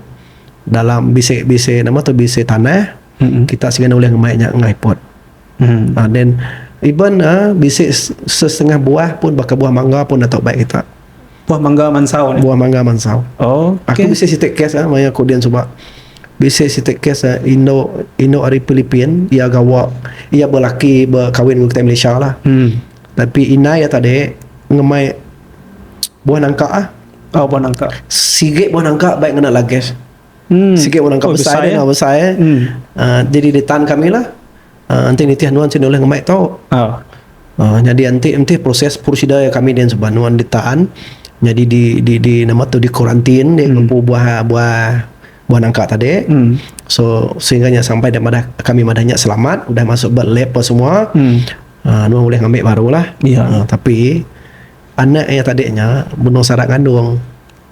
Speaker 1: dalam bisi bisi nama tu bisi tanah. Mm-hmm. Kita sini ulih ngemai nya ngai pot. Mm-hmm. Uh, then even uh, bisi setengah buah pun baka buah mangga pun datuk baik kita. Buah mangga
Speaker 2: mansau nih. Buah mangga mansau.
Speaker 1: Okay. Aku bisi
Speaker 2: siti kes
Speaker 1: ah maya aku din suba. Bisi siti kes ah indu indu ari Philippine iya gawa iya belaki bekawin enggau kitai Malaysia lah. Hmm. Tapi indai iya tadi ngemai buah nangka ah. Oh buah nangka.
Speaker 2: Sigi buah nangka
Speaker 1: baik ngena lages. Hmm. Sikit orang kau oh, besai, besai, dia, eh? besai eh? Hmm. Uh, jadi dia tahan kami lah. Uh, nanti nitih nuan sini oleh ngemai tau. Oh. Uh, jadi nanti nanti proses prosedur yang kami dan sebab nuan ditahan. Jadi di di di nama tu di kuarantin dia hmm. buah buah buah nangka tadi. Hmm. So sehingga nya sampai dan madah kami madahnya selamat udah masuk ber lab apa semua. Hmm. Uh, nuan boleh ngambil barulah. Yeah. Ya. Uh, tapi anak yang tadinya bunuh sarak kandung.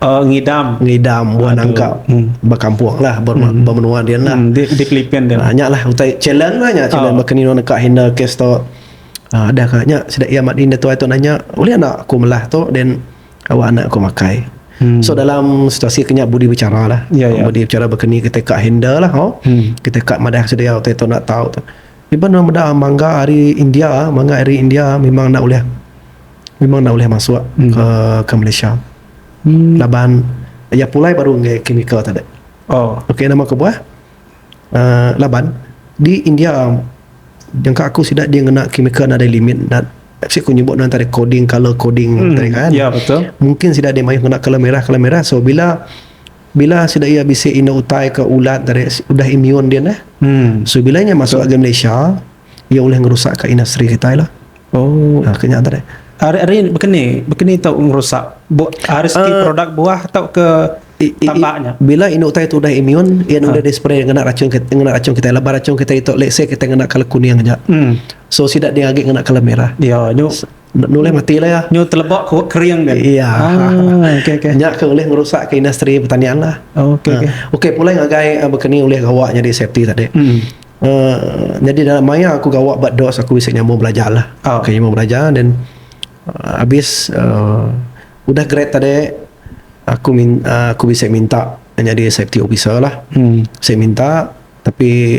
Speaker 1: Oh, ngidam. Ngidam buah nangka hmm. bakampung lah, ber, hmm. bermenua dia lah. Hmm. Di, di Filipin dia.
Speaker 2: Nah, lah, utai
Speaker 1: challenge lah nya, challenge oh. bakani nua neka handle kes tu. Ah, ada kah nya, sida ia mat indah tuai tu nanya, boleh anak aku melah tu, dan awak anak aku makai. Hmm. So dalam situasi kenya budi bicara lah. Ya, ya. Budi bicara bakani kita kak handle lah. Oh. Hmm. Kita kak madah sida ia utai tu nak tahu tu. Iban nama dah mangga hari India, mangga hari India memang nak boleh memang enda ulih masuk ke Malaysia laban iya pulai baru ngagai chemical tu deh ok nama kebuah uhh laban di India nyangka aku sida deh ngena chemical nadai limit enda bisi ku nyebut nuan tadi coding colour coding tadi kan mungkin
Speaker 2: sida deh mayuh ngena
Speaker 1: colour merah colour merah so bila bila sida iya bisi indu utai ke ulat tadi udah immune dia neh so bila iya masuk ke Malaysia Iya ulih ngerusak ka industri kitai lah. Oh. Ha, ke nya tadi. Ari ari bekeni,
Speaker 2: bekeni tau ngerusak bu, ari segi uh, produk buah tau ke tambak nya. Bila indu utai tu
Speaker 1: dah imun, ia ha. udah di spray ngena racun kita, ngena racun kita lebar racun kita itu let's say kita ngena kala kuning aja. Hmm. So sida dia agi ngena kala merah. Ya, nyu Enda
Speaker 2: nulih mati
Speaker 1: lah iya. Nyu teleba ku kering
Speaker 2: kan. Iya. Ah,
Speaker 1: okey okey.
Speaker 2: Nya ke ulih ngerusak
Speaker 1: ke industri pertanian lah. Oh, okey okey. Uh, okey pulai ngagai uh, baka ni ulih gawa nyadi safety tadi. Hmm. Uh, jadi dalam maya aku gawa ba DOS aku bisi nyambung belajar lah. Oh. Okay, nyambung belajar dan uh, habis uh, udah grad tadi aku min, uh, aku bisa minta jadi safety officer lah hmm. saya minta tapi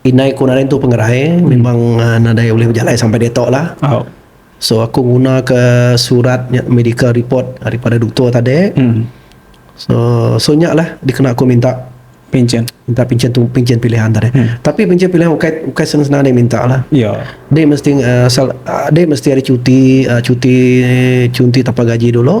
Speaker 1: Indai ku nadai tu pengerai memang nadai ulih bejalai sampai diatu lah so aku nguna ka surat nya medical report daripada doktor tadi so so nya lah dikena aku minta pinchen pinchen pilihan tadi tapi pinchen pilihan ukai ukai senang senang nadai minta lah ade mesti
Speaker 2: asal
Speaker 1: ade mesti ada cuti cuti cuti tanpa gaji dulu.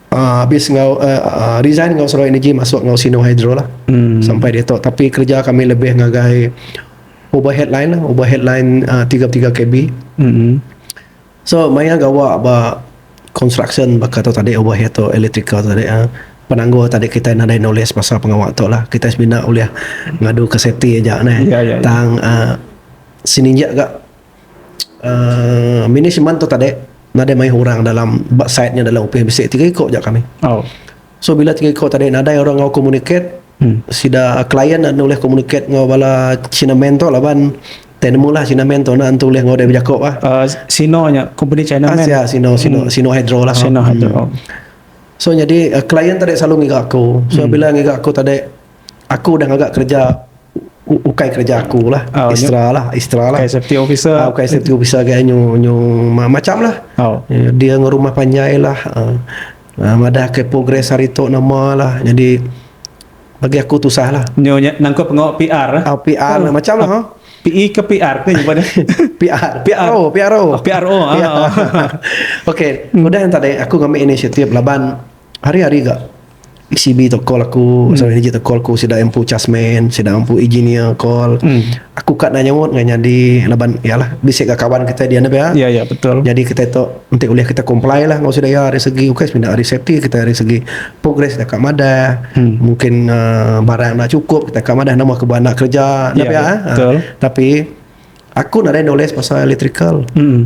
Speaker 1: Uh, habis enggau uh, uh, resign enggau Sarawak Energy masuk enggau Sino Hydro lah. Hmm. Sampai dia tu tapi kerja kami lebih ngagai ubah headline lah, ubah headline uh, 33 kb. Hmm. So maya gawa ba construction baka tu tadi ubah itu electrical tadi uh, penanggul tadi kita nadai knowledge pasal pengawa tu lah. Kita semina ulih ngadu ke safety aja nah. Ya, ya, ya. Tang uh, sininja gak uhh management tu tadi nadai mayuh orang dalam ba site nya dalam opis bisi tiga iku aja kami. So bila tiga iku tadi nadai orang enggau communicate sida client enda ulih communicate enggau bala china man tu laban tai nemu lah china man tu enda tentu ulih enggau dep bejaku bah. Uhh sino nya
Speaker 2: company china man. Sia sino sino sino
Speaker 1: hydro lah.
Speaker 2: So nyadi
Speaker 1: client tadi silalu ngiga aku. So bila ngiga aku tadi. Aku udah ngaga kereja ukai kereja aku lah oh, extra lah extra lah ukai safety officer
Speaker 2: uh, ukai safety officer gaya
Speaker 1: nyu nyu macam lah oh. Eh, dia ngerumah panjai lah uh, uh, madah ke progres hari tu nama lah jadi bagi aku tu sah lah nyu nangkut pengawa
Speaker 2: PR lah uh, ah, PR oh. lah macam lah
Speaker 1: uh, PE ke PR
Speaker 2: ke jumpa dia PR PR oh,
Speaker 1: PR oh. PR oh. okay udah yang tadi aku ngambil inisiatif laban hari-hari gak CB tu call aku pasal energy tu call aku sida empu chasman sida empu engineer call aku ka nak nyaut ngan nyadi laban yalah bisi ka kawan kita dian pia Ya, ya, betul. jadi kita
Speaker 2: tu enti
Speaker 1: ulih kita comply lah enggau sida ya dari segi ukai semina dari safety kita dari segi progress kita ka madah Hmm. mungkin uh, barang enda cukup kita ka madah nama ke beranak kerja dah Ya, pia ya, eh. betul. tapi aku nadai knowledge pasal electrical Hmm.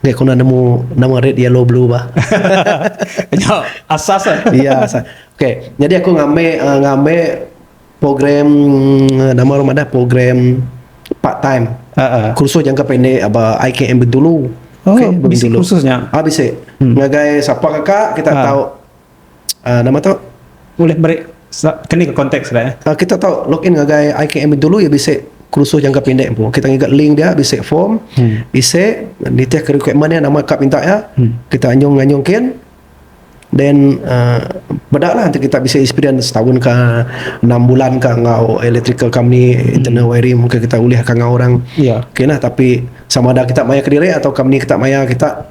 Speaker 1: Dia kena nemu nama red yellow blue bah. Nya
Speaker 2: asas eh. Iya asas. Okey,
Speaker 1: jadi aku ngambil uh, ngambil program uh, nama orang madah program part time. Uh, uh. Kursus jangka pendek apa IKM Bintulu. Oh, okay, bisi
Speaker 2: kursusnya. Ah bisi. Hmm.
Speaker 1: Ngagai siapa kakak kita uh. tahu Uh, nama tu? Ulih meri
Speaker 2: keni ke konteks dia. Uh, kita tau login
Speaker 1: ngagai IKM dulu ya bisi kursus jangka pendek empu. Kita ngiga link dia bisi form, hmm. isi nitih ke requirement dia nama ka minta ya. Hmm. Kita anyung nganyung kin. Then uh, beda lah kita bisa experience setahun ke enam bulan ke ngau electrical company hmm. internal wiring mungkin kita ulih ke ngau orang. Ya. Yeah. Okay lah tapi sama ada kita maya ke diri atau company kita maya kita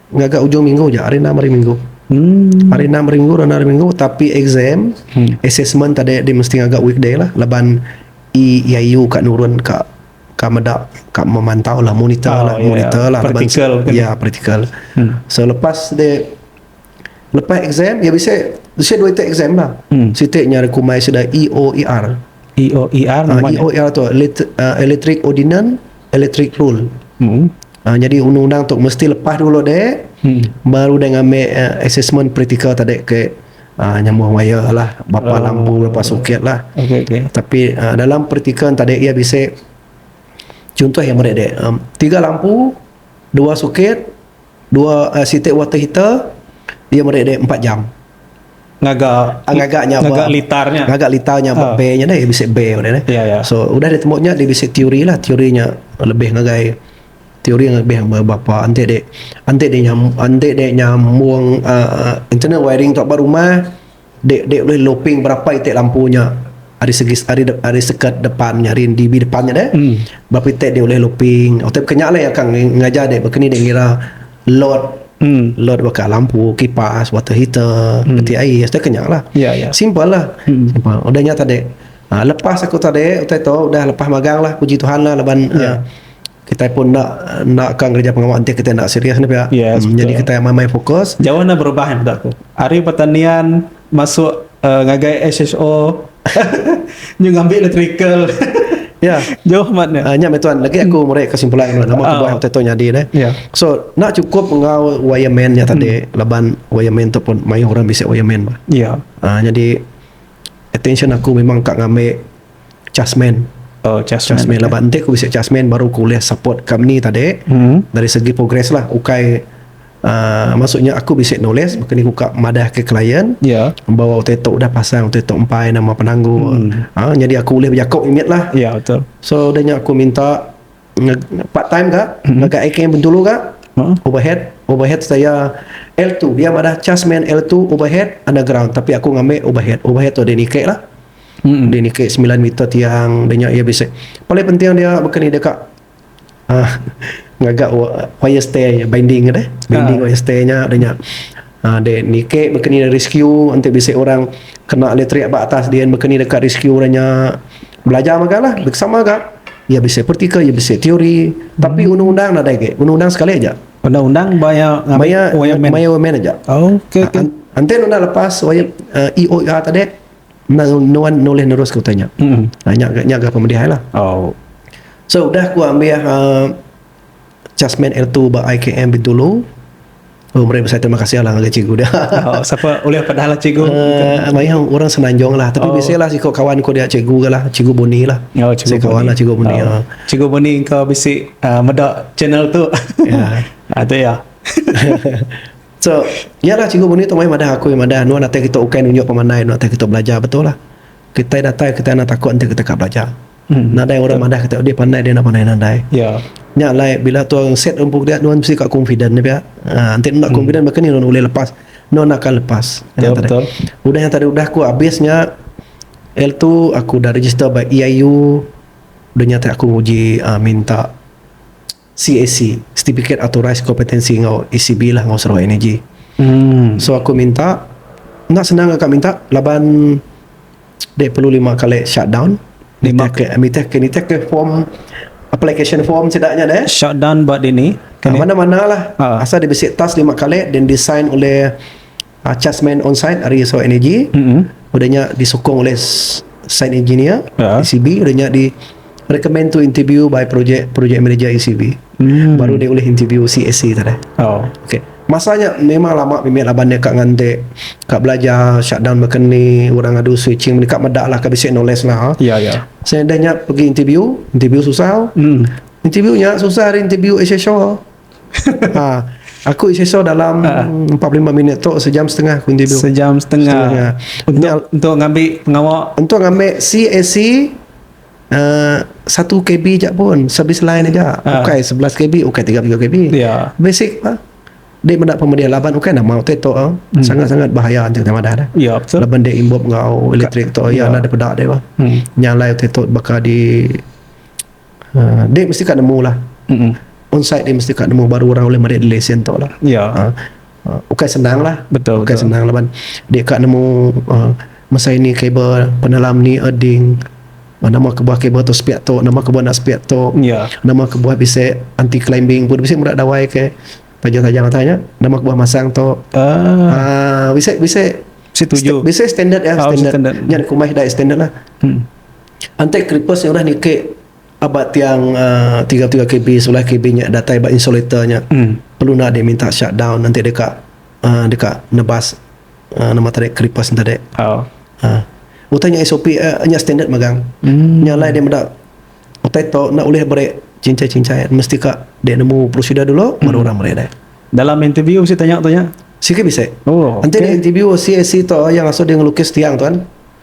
Speaker 1: Ngaga ujung minggu ja, hari enam hari minggu. Hmm. Hari enam hari minggu, hari enam hari minggu tapi exam, hmm. assessment tadi dia mesti ngaga weekday lah laban EIU e ka nurun ka ka meda ka memantau lah monitor oh, lah yeah. monitor lah practical laban, kan? ya
Speaker 2: practical.
Speaker 1: Hmm. So lepas dia lepas exam ya bisa bisa dua itu exam lah. Hmm. Siti nya rekumai sudah EOER.
Speaker 2: EOER. Uh, ah, EOER tu uh,
Speaker 1: electric ordinance electric rule hmm. uh, jadi undang-undang tu mesti lepas dulu dek hmm. baru dia ngambil uh, assessment praktikal tadi ke uh, nyambung wire lah bapa uh, lampu bapa soket lah okay, okay. tapi
Speaker 2: uh, dalam
Speaker 1: praktikal tadi ia bisa contoh yang menarik dek um, tiga lampu dua soket Dua siti water heater iya meri deh empat jam ngaga ngaga nya ngaga litar nya ngaga litar nya ba bay nya deh bisi bay nya deh so udah ditemu
Speaker 2: nya dia
Speaker 1: bisi teori lah teori nya lebih ngagai teori nya lebih ngagai berapa enti deh enti deh enti deh nyambung uhh internal wiring tu ba rumah. De de ulih loping berapa iti lampu nya ari segi ari seket depan nya ari NDB depan nya deh berapa iti de ulih loping tapi ke nya leh ka ngajar de baka ni de ngira load load baka lampu kipas water heater peti air dah ke nya lah simple lah udah nya tadi lepas aku tadi utai tu udah lepas magang lah puji Tuhan lah laban Kitai pun enda enda ka ngereja pengawa enti kitai enda serius nih pia. Yes, hmm, jadi kitai amai mai fokus. Jauh enda berubah yang betul
Speaker 2: tu. Hari pertanian masuk uh, ngagai SHO nyu ngambil electrical. Ya.
Speaker 1: Jauh mat ni. Uh,
Speaker 2: nya tuan lagi aku hmm.
Speaker 1: murai kesimpulan nama aku uh. buat waktu tu nyadi ni. Yeah. So, nak cukup ngau wireman nya tadi hmm. laban wireman tu pun mayuh orang bisi wireman. Ya. Yeah. Uh, jadi attention aku memang kak ngambil Chasman. Oh, Chasman. Chasman okay. laban enti ku bisi Chasman baru ku ulih support company tadi hmm. dari segi progress lah. Ukai uh, maksudnya aku bisi nulis maka ni ku ka madah ke klien. Ya. Yeah. Bawa utai tok dah pasang utai tok empai nama penanggul. Hmm. Ha, jadi aku ulih berjakok imit lah. Ya, yeah, betul. So,
Speaker 2: danya aku minta
Speaker 1: part time ka, hmm. ngagai IKM Bentulu ka, huh? overhead, overhead saya L2. Dia madah Chasman L2 overhead underground tapi aku ngambil overhead. Overhead tu ada nikah lah. Deh niki semilan mita tiang deh nya iya bisi paling penting dia baka ni deka uhh ngaga wire stay nya binding deh binding wire stay nya deh nya uhh deh niki baka ni rescue enti bisi orang kena elektrik ba atas din baka ni deka rescue orang nya belajar mega lah sama ga iya bisi praktikal iya bisi teori tapi undang undang nadai agi undang undang sekali aja undang undang
Speaker 2: baya wire man aja enti undang
Speaker 1: lepas wire EOR tadi. Nang nuan nulih neruska utai nya. Nah nya nya ga pemedih ai lah. So udah ku ambih uhh Chasman L two ba IKM Bintulu. Oh meri besai terima kasih lah ngagai cikgu dia. Sapa ulih
Speaker 2: pedah lah cikgu. Uhh mayuh orang
Speaker 1: Semenanjung lah tapi bisi lah siko kawan ku dia cikgu ga lah Cikgu Boni lah. Bisi kawan lah Cikgu
Speaker 2: Boni
Speaker 1: uhh. Cikgu Boni engka
Speaker 2: bisi uhh meda channel tu. Uhh tu iya.
Speaker 1: So iya lah cikgu menue tu mai madah aku madah anu datai kitu ukai nunjuk pemandai anu datai kitu belajar betul lah kitai datai kitai enda takut enti kitai ka belajar nadai orang madah kitai deh pandai deh enda pandai nadai nya alai
Speaker 2: bila
Speaker 1: tu orang set empu dia nuan mesti ka confident nya pia enti enda confident baka ni nuan ulih lepas nuan enda akan lepas
Speaker 2: udah nya tadi udah
Speaker 1: ku habis nya lalu tu aku udah register ba EIU dunya ti aku nguji minta. CAC, Certificate Authorised Competency enggau ECB lah enggau Sarawak Energy. So aku minta enda senang ka minta laban dek perlu lima kali shutdown lima ke nitih ke nitih ke form application form sida nya deh. Shutdown ba dini.
Speaker 2: Ah, Kene. mana-mana lah.
Speaker 1: Ah. Asal dia bisi task lima kali then designed oleh Achas main on site ari Sarawak Energy udah nya disukung ulih site engineer ECB udah nya di recommend to interview by project project manager ECB baru dia ulih interview CAC tu deh. Okey. Masa nya memang lama mimit laban dia ka ngante ka belajar shutdown baka ni orang adu switching mani ka meda lah ka bisi knowledge lah. Seh dah
Speaker 2: nya
Speaker 1: pegi interview, interview susah. Interview nya susah ari interview Asia Shore. Ha. Aku isiso dalam ha. 45 minit tu sejam setengah aku interview. Sejam setengah.
Speaker 2: setengah. Untuk, Nyal, untuk ngambil pengawa. Untuk ngambil CAC
Speaker 1: uh, 1 KB je pun servis lain aja. Ha. Ukai 11 KB, ukai 30 KB. Ya. Basic
Speaker 2: lah.
Speaker 1: Dia mendak pemedia laban ukai nama utai tu ah. Hmm. Sangat-sangat bahaya anjing sama dah. Ya, betul. Laban dia imbup
Speaker 2: ngau
Speaker 1: elektrik tu ya, ya. ada pedak dia. Hmm. Nyalai utai tu bakal di Uh, dek mesti ka nemu lah. Mm-mm. Onsite dia mesti ka nemu baru orang boleh meri lesen tu lah. Ya.
Speaker 2: Uh, uh, ukai senang
Speaker 1: lah. Betul, Ukai betul. senang lah ban. Dia ka nemu uh, masa ini kabel penelam ni erding. Uh, nama kebuah kabel tu spiak tu, nama kebuah nak spiak tu. Ya. Nama kebuah bisa anti climbing pun bisa murah dawai ke tajam-tajam tanya. Nama kebuah masang tu. Ah, Ah, bisa bisa setuju. sta- bisa standard ya, Ah,
Speaker 2: standard.
Speaker 1: standard. Nya kumai dai standard lah. Hmm. Antek kripes nya udah nikek aba tiang tiga puluh tiga kb sebelah kb nya datai ba insulator nya perlu enda deh minta shut down antek deka deka nebas nama tadi kripes nya tadi utai nya sop nya standard megang nya alai deh meda utai to enda ulih beri cincai cincai mesti ka deh nemu prosedur dulu baru orang meri deh dalam interview
Speaker 2: bisi tanya tu nya sikit bisi
Speaker 1: antek interview
Speaker 2: CSC
Speaker 1: to iya ngasoh deh ngelukis tiang tu kan.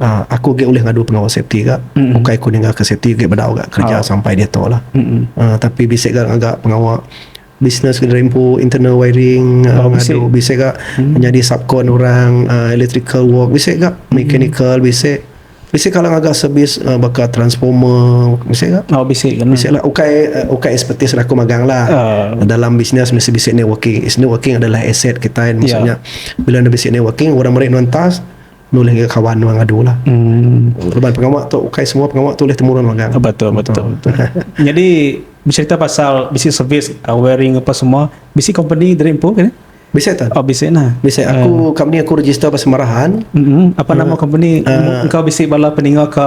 Speaker 1: Uh, aku agak ulih ngadu pengawa safety ga. Mm-mm. Bukai aku ninggal ke safety agak bedau ga kerja oh. sampai dia tu lah. Uh, tapi bisa ga agak pengawa business ke rempu internal wiring oh, uh, ngadu bisa ga mm. menjadi subcon orang uh, electrical work bisa ga mm. mechanical bisa bisa kalau agak servis uh, bakal transformer bisa ga oh bisa ga bisa lah
Speaker 2: ukai uh, ukai
Speaker 1: expertise lah aku magang lah uh. dalam bisnes mesti bisa networking is networking adalah aset kita kan, ya. maksudnya yeah. bila ada bisa networking orang mereka nontas Nulih enggau kawan nuan ngadu lah. Hmm. Laban pengawa tu ukai semua pengawa tu ulih temurun magang. Ah, betul, betul, betul.
Speaker 2: Nyadi beserita pasal bisi servis uh, wearing apa semua, bisi company dari empu kan? Bisa tak? Oh, bisi
Speaker 1: nah. Bisa aku
Speaker 2: uh, company
Speaker 1: aku register pas marahan. Mm-hmm. Apa uh, nama
Speaker 2: company uh, engkau bisi bala peninga ke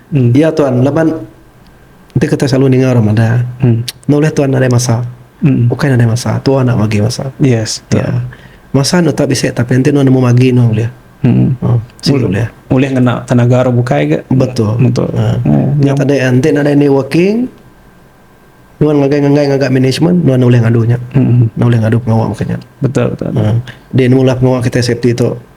Speaker 2: Em dia tuan laban
Speaker 1: enti kitai selalu ninga orang madah em enda ulih tuan nadai masa. Em bukai nadai masa tua enda bagi masa. Yes betul.
Speaker 2: Ya.
Speaker 1: Masa enda tetap bisi tapi enti nuan nemu magi nuan ulih. Em oh sigi ulih. Ulih ngena
Speaker 2: tenaga orang bukai ga. Betul. Betul. Ha.
Speaker 1: Nya
Speaker 2: tadi enti nadai
Speaker 1: networking nuan ngagai nganggai ngaga management nuan ulih ngadu nya. Em enda ulih ngadu pengawa mungkin nya. Betul betul. Ha.
Speaker 2: Dia nemu
Speaker 1: lah pengawa kitai safety tu.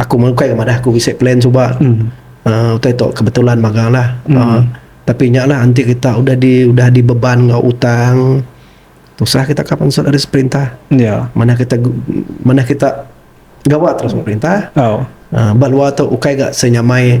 Speaker 1: Aku meh ukai ke madah aku bisi plan suba uhh utai tu kebetulan magang lah uhh tapi nya lah enti kita udah di udah di beban enggau utang tusah kita ka pansut ari seperintah manah kita manah kita gawa terus enggau perintah uhh ba luar tu ukai ga senyamai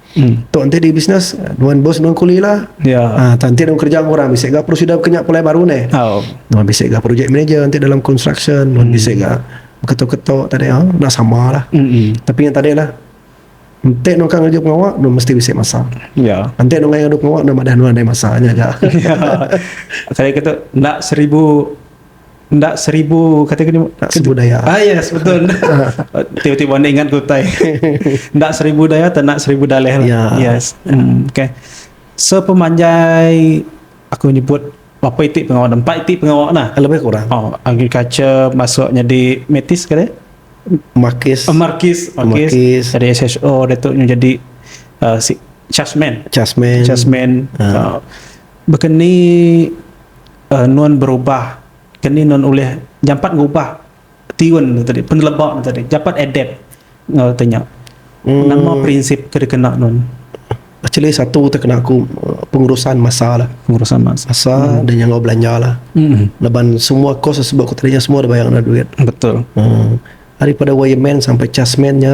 Speaker 1: Tu enti di bisnes nuan bos nuan kuli lah. Yeah. Ha enti nuan kerja enggau orang bisi ga perlu sida beka nya pulai baru neh. Oh. Nuan bisi ga project manager enti dalam construction nuan bisi ga beketo-keto tadi ha enda sama lah. Mm. Tapi nya tadi lah. Enti nuan ka ngereja pengawa nuan mesti bisi masa. Yeah. Enti nuan ngayanka duit pengawa nuan madah nuan ada masa nya ga.
Speaker 2: Tadi ka tu enda seribu Enda seribu kata ke enda seribu daya. Ah
Speaker 1: yes betul.
Speaker 2: Tiba-tiba anda ingat ke utai. enda seribu daya tak enda seribu dalih lah. Yeah. Yes. Mm, okay. So pemanjai aku nyebut berapa iti pengawa empat iti pengawa nah. Lebih kurang. Oh,
Speaker 1: agriculture
Speaker 2: masuk jadi metis ke dia? Markis.
Speaker 1: Oh, Markis. Markis.
Speaker 2: Markis. Jadi SHO dia tu jadi uh, si Chasman. Chasman. Chasman. Uh. Ah. Uh, ah. berkeni Nuan berubah, ke ni nuan ulih jampat ngubah tiun tu tadi, peneleba tu tadi, jampat adapt enggau ti nya. Nama prinsip ke dikena nuan? Actually
Speaker 1: satu ti kena aku pengurusan masa lah. Pengurusan masa. Masa
Speaker 2: dan nya enggau belanja
Speaker 1: lah. Laban semua course da sebut aku tadi nya semua da bayar neg duit. Betul.
Speaker 2: Daripada
Speaker 1: wireman sampai chasman nya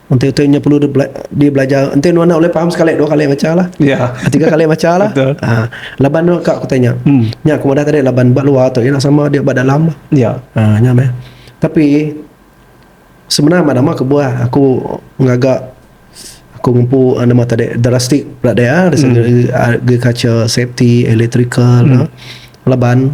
Speaker 1: Enti utai nya perlu dibelajar enti nuan enda ulih paham sekali dua kali macha lah. Ya. Tiga kali macha
Speaker 2: lah.
Speaker 1: Betul. Ha.
Speaker 2: Laban tu ka
Speaker 1: aku tanya. Hmm. Nya aku madah tadi laban ba luar tu nya sama dia ba dalam. Ya. Ha nya meh. Tapi sebenar ba nama kebuah aku ngaga aku ngempu ah, nama tadi drastik pula dia dari segi hmm. agriculture, safety, electrical hmm. laban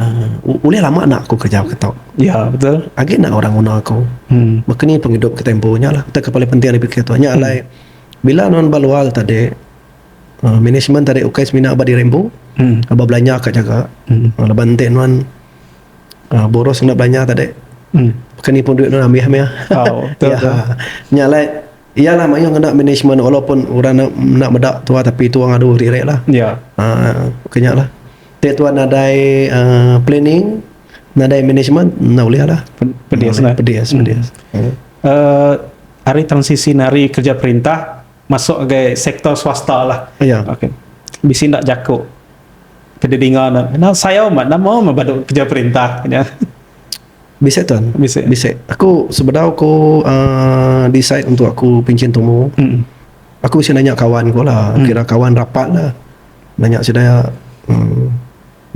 Speaker 1: Uhh ulih lama enda aku kerja ke tu. Ya betul
Speaker 2: agi enda orang nguna aku.
Speaker 1: Baka ni pengidup kita empu nya lah. Utai ke paling penting ari bisi tu nya alai bila nuan ba luar tadi uhh management tadi ukai semina ba diri empu aba belanja ka nyaga laban enti nuan uhh boros enda belanja tadi baka ni pun duit nuan amih mih.
Speaker 2: Nya alai.
Speaker 1: Iya lah mayuh ngena management walaupun orang enda meda tua tapi tua ngadu agi reh lah. Ya.
Speaker 2: Uh, kenya
Speaker 1: lah. Te tua nadai uh, planning, nadai management, enda ulih lah. Pedis lah. Pedis, hmm. pedis. Hmm. Uh,
Speaker 2: hari transisi nari kerja perintah masuk ke sektor swasta lah. Ya. Okay.
Speaker 1: Bisi
Speaker 2: ndak jaku. Kede dinga nak. Nah, saya mak nama mak badu kerja perintah. Ya.
Speaker 1: Bisi tuan. Bisi. Bisi. Aku
Speaker 2: sebedau
Speaker 1: ku uh, decide untuk aku pincin tumu. Mm. Aku bisi nanya kawan ku lah. Mm. Kira kawan rapat lah. Nanya sida ya. Um,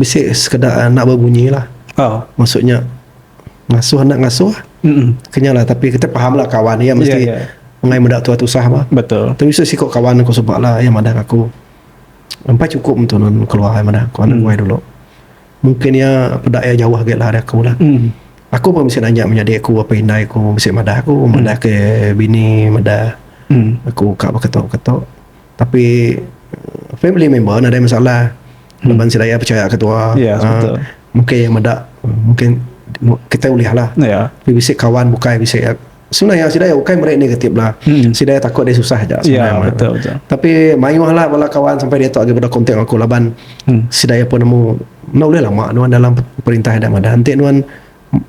Speaker 1: bisi sekeda eh, nak berbunyi lah. Oh. Maksudnya ngasuh nak ngasuh. Mm. Kenya lah tapi kita faham lah kawan ya mesti yeah, yeah. mengai meda tua tusah bah. Betul. Tapi bisi siko
Speaker 2: kawan aku
Speaker 1: sebab lah yang madah aku. Empat cukup untuk keluar yang madah aku. Anak mm. dulu. Mungkin iya peda iya jauh agi lah ari aku lah. Aku pun bisi nanya menyadi aku apai indai aku bisi madah aku madah ke bini madah aku ka beketo keto tapi family member nadai masalah laban sida iya pechaya ke tua aaa
Speaker 2: mungkin iya meda
Speaker 1: mungkin kita ulih lah tapi bisi kawan
Speaker 2: bukai
Speaker 1: bisi. Sila iya sida iya ukai meri enda reti bela. Hmm. Sida iya takut dia susah aja. Ya, betul betul.
Speaker 2: Tapi mayuhlah
Speaker 1: bala kawan sampai dia tu agi pada kontak aku laban hmm. sida iya pun nemu nak ulih lama nuan dalam perintah ada madah. Enti nuan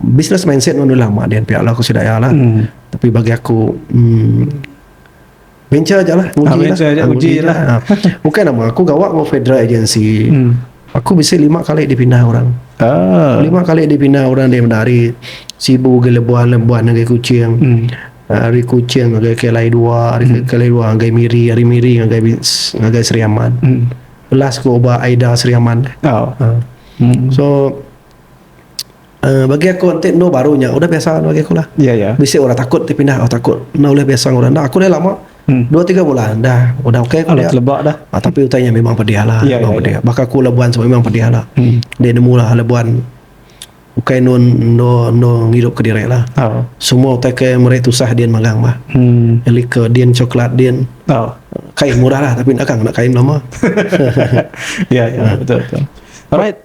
Speaker 1: business mindset nuan ulih lama dia pihak lah aku sida iya lah. Hmm. Tapi bagi aku hmm, Mencha aja lah Uji ah, mencha lah. aja, ah, uji, uji lah. lah. Ah. Bukan nama aku gawa dengan federal agency. Hmm. Aku bisa lima kali dipindah orang. Ah. Lima kali dipindah orang dari dari Sibu ke Lebuan, Lebuan ke Kuching. Hmm. Ah, hari Kuching ngagai Kelai dua, hari hmm. Kelai dua ngagai Miri, hari Miri ngagai ngagai Seriaman. Hmm. Last ke Oba Aida Seriaman. Oh. Ah. Hmm. So uhh bagi aku enti anu baru nya udah biasa anu bagi aku lah. Bisi orang takut
Speaker 2: ti pindah
Speaker 1: oh takut enda ulih biasa ngan orang enda aku dah lama dua tiga bulan dah udah okay ku dia uhh tapi utai
Speaker 2: nya memang pedih
Speaker 1: lah memang pedih baka aku labuan semua memang pedih lah dia nemu lah labuan ukai anu anu anu ngidup ke diri lah semua utai ke meri tusah din magang bah liker din coklat din uhh kain murah lah tapi enda kang enda kain lama
Speaker 2: uhh uhh uhh.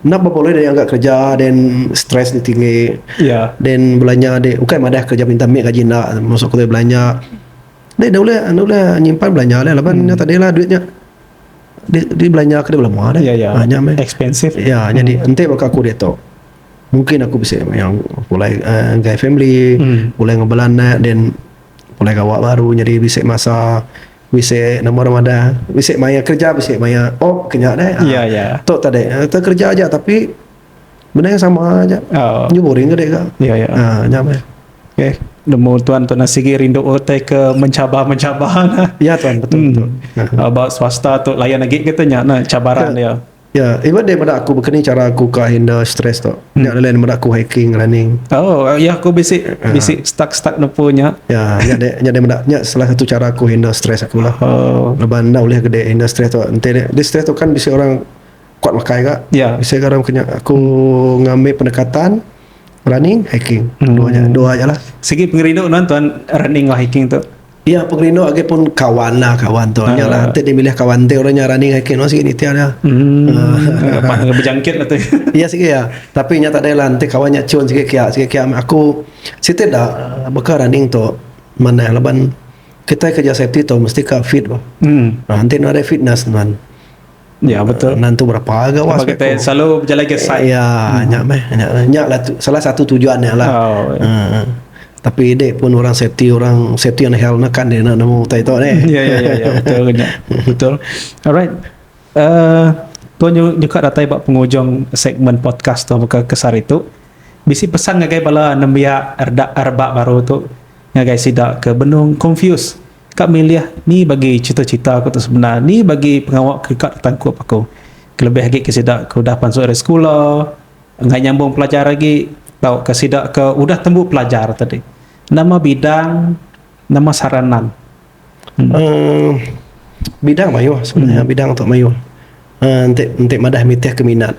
Speaker 1: Enda berapa ulih deh angkat kerja then stress nya tinggi. Yeah. Then
Speaker 2: belanja deh
Speaker 1: ukai madah kerja pintar mit gaji enda masuk ke belanja. Deh enda ulih enda ulih nyimpan belanja deh laban nya tadi lah duit nya di di belanja ke belama deh. Yeah, yeah. Nya meh. Expensive. Ya,
Speaker 2: nyadi enti
Speaker 1: baka aku diatu mungkin aku bisi yang pulai uhh enggai family, pulai ngeban anak then pulai gawa baru nyadi bisi masa. Bisi nama orang madah, bisi maya kerja bisi maya off ke nya deh. Ya, ya. Tu tadi,
Speaker 2: kita
Speaker 1: kerja aja tapi benda yang sama aja. Oh. Nyu boring ke deka. Ya, ya. Ha, nya meh. Okey.
Speaker 2: Nemu tuan tu nasi gi rindu utai ke mencabar-mencabar. Ya tuan, betul.
Speaker 1: Hmm. betul. Aba swasta
Speaker 2: tu layan agi kita nya nah cabaran dia. Ya, yeah, even dia meda
Speaker 1: aku bekeni cara aku ka handle stress tu. Hmm. Nya lain meda aku hiking, running. Oh, uh, ya aku bisi
Speaker 2: uh. bisi stuck-stuck nepu nya. Ya, nya dia nya
Speaker 1: dia meda nya salah satu cara aku handle stress aku lah. Oh. Leban anda boleh ke dia handle stress tu. Ente dia, dia stress tu kan bisi orang kuat makai ka. Ya. Yeah. Bisi orang kena
Speaker 2: aku
Speaker 1: hmm. ngambil pendekatan running, hiking. Hmm. Dua aja, dua aja lah. Segi pengerindu tuan
Speaker 2: tuan running atau hiking tu. Iya pengerindu
Speaker 1: agi pun kawan lah kawan tu nya lah enti dimilih kawan enti orang nya rani ngai kinuh sigi nitih nya. Lepas nya
Speaker 2: bejangkit lah tu. Iya sigi iya
Speaker 1: tapi nya tadai lah enti kawan nya cun sigi kia sigi kia meh aku siti da baka running tu manah laban kitai kerja safety tu mesti ka fit bah enti enda ada fitness nuan. Ya
Speaker 2: betul. Nantu berapa ga was
Speaker 1: kita ko. selalu berjalan ke
Speaker 2: site. Ya, hmm. nya meh.
Speaker 1: Nya, nya lah tu, salah satu tujuan nya lah. Oh, ya. uh, tapi ide pun orang safety orang safety and health nak kan dia nak nemu utai tu ni. Ya ya ya, ya betul
Speaker 2: nya. betul. Alright. Uh, tuan nyuka datai ba pengujung segmen podcast tu muka kesar itu. Bisi pesan ngagai bala nembiak erda erba baru tu ngagai sida ke benung confused Ka milih ni bagi cita-cita aku tu semina ni bagi pengawa ke ka ditangkup aku kelebih agi ke sida ke udah pansut ari sekula enggai nyambung pelajar agi tauka sida ke udah tembu pelajar tadi nama bidang nama saranan uhh
Speaker 1: bidang mayuh sebenarnya bidang tu mayuh uhh enti enti madah nitihka minat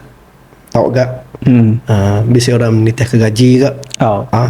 Speaker 1: tauga uhh bisi orang nitihka gaji ga uhh.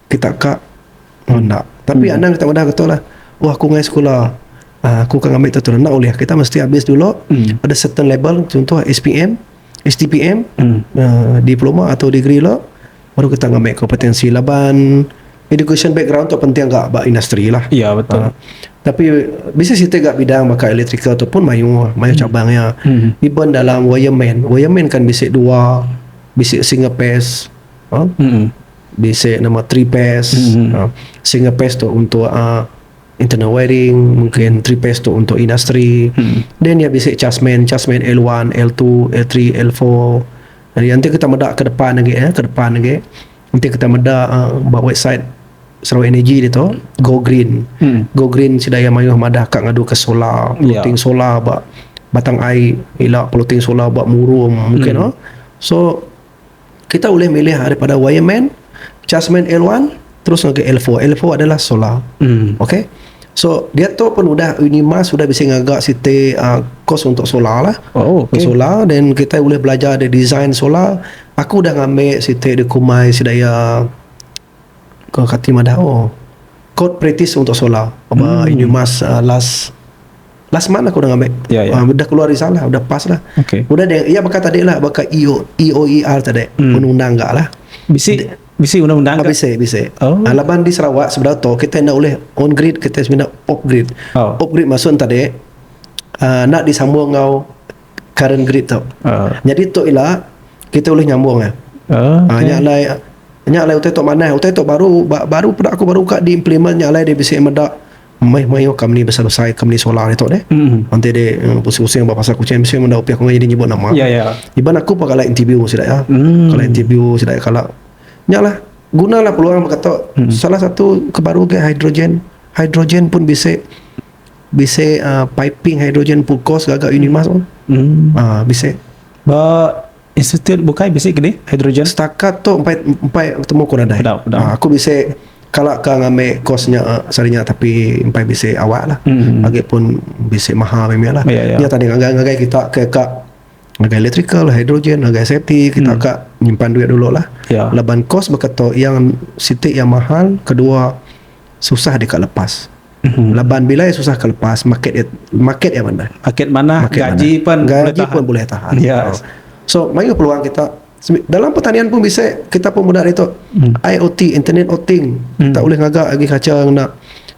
Speaker 1: Kita ka enda. Tapi anang kita madah ketu lah. Oh aku ngai sekula. Uh, aku ka ngambil tentu enda ulih. Kita mesti habis dulu hmm. ada certain level contoh SPM, STPM, hmm. uh, diploma atau degree lo baru kita ngambil kompetensi laban education background tu penting agak ba industri lah. Ya betul. Uh,
Speaker 2: tapi
Speaker 1: bisa kita agak bidang maka electrical tu pun mayu mayu hmm. cabang ya. Hmm. Even dalam wireman, wireman kan bisa dua bisa single phase. Huh? Hmm. Bisi nama three pass. Uh, single pass tu untuk uh, internal wiring, mungkin three pass tu untuk industri. Then dia bisi chasman, chasman L1, L2, L3, L4. Jadi nanti kita meda ke depan lagi eh, ke depan lagi. Nanti kita meda uh, ba website Sarawak Energy dia tu, Go Green. Go Green sida yang mayuh madah ka ngadu ke solar, Ya. floating solar ba batang ai, ila floating solar ba murum mungkin oh. So Kita ulih milih ari pada wire man, charge man L1 terus ngagai L4. L4 adalah solar. Hmm. Okey. So dia tu pun udah Unima sudah bisa ngaga siti uh, kos untuk solar lah. Oh, okay. Solar dan kita boleh belajar ada design solar. Aku dah ngambil siti di Kumai sedaya Ko kati madah oh kod practice untuk solar aba hmm. ini mas uh, last last month aku dah ngambil yeah, ya, ya. yeah. Uh, udah keluar risalah udah pas lah okay. udah dia ya bakal tadi lah bakal EO, EOER tadi hmm. undang-undang enggak lah bisi De, bisi
Speaker 2: undang-undang enggak bisi bisi oh. uh, laban
Speaker 1: di Sarawak sebelah tu kita nak boleh on grid kita sebenarnya off grid oh. off grid maksud tadi uh, nak disambung dengan current grid tu. Uh. Jadi tu ila kita ulih nyambung ah. Uh, okay. uh, nya alai nya alai utai tu manah, utai tu baru ba, baru peda aku baru ka di implement nya alai dia bisi meda mai mai yo company besar besar company solar itu deh. Mm. Nanti deh uh, pusing-pusing ba pasal kucing mesti menda upiah kau jadi nyebut nama. Ya yeah, ya. Yeah. Iban aku pakai like interview sida ya. Mm. Kalau interview sida ya kalau nya lah gunalah peluang berkata mm. salah satu kebaru ke hidrogen hidrogen pun bisa Bisi uh, piping hidrogen pulkos gaga Unimas on. Hmm. Uh, bisi. Ba
Speaker 2: institut bukai bisi ke ni hidrogen? Setakat tu empat
Speaker 1: empat temu aku nadai. Pedau, pedau. Uh, aku bisi kalau ke ngambil kosnya uh, sarinya tapi empat bisi awak lah. Hmm. Lagi pun bisi mahal memang lah. Ya, ya. Nya tadi ngagai-ngagai kita ke kak ngagai electrical, hidrogen, ngagai safety kita hmm. kak nyimpan duit dulu lah. Ya. Laban kos
Speaker 2: berkata
Speaker 1: yang sitik yang mahal kedua susah dekat lepas. Laban bila iya susah ka lepas, market iya market iya manah. Market manah, Market gaji
Speaker 2: manah. pen gaji bulih tahan. pun bulih tahan.
Speaker 1: Ya. Yes. So
Speaker 2: mayuh peluang
Speaker 1: kita Sebi- dalam pertanian pun bisa kita pun meda ditu Hmm. IoT Internet of Thing Hmm. kita ulih ngaga agi kaca ngena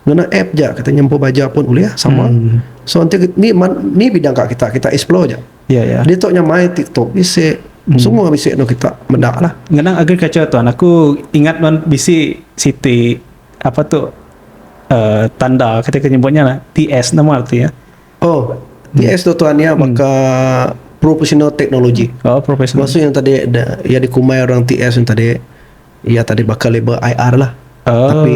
Speaker 1: ngena app ja kita nyempu baja pun ulih sama. Hmm. So enti kit- ni man- ni bidang ka kita kita explore ja. Ya ya. Ditu nya main
Speaker 2: TikTok
Speaker 1: bisi Hmm. semua bisi anu kita meda lah. Ngenang agriculture tuan,
Speaker 2: aku ingat nuan bisi siti apa tu uh, tanda kita ke nyebutnya lah TS nama arti ya oh
Speaker 1: TS hmm. tu tuan ya maka hmm. professional technology oh professional maksud yang
Speaker 2: tadi da,
Speaker 1: yang dikumai orang TS yang tadi ya tadi bakal label IR lah oh. tapi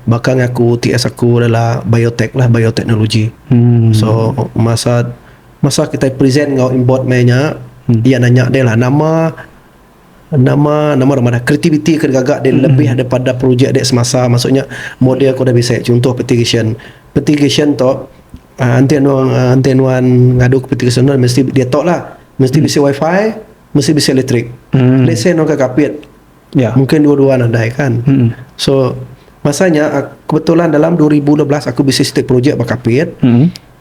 Speaker 1: bakal ngaku TS aku adalah biotech lah biotechnology hmm. so masa masa kita present ngau import mainnya hmm. dia nanya dia lah nama Nama nama rumah dah kreativiti ke digaga deh lebih daripada projek deh semasa maksud nya model ke udah bisi chuntoh petigasyen. Petigasyen tu uhh enti anu uhh enti nuan ngadu ke petigasyen nuan mesti diatu lah mesti bisi wifi mesti bisi elektrik. Let's say nuan ke Kapit mungkin dua dua nadai kan. So masa nya kebetulan dalam dua ribu dua belas aku bisi siti projek ba Kapit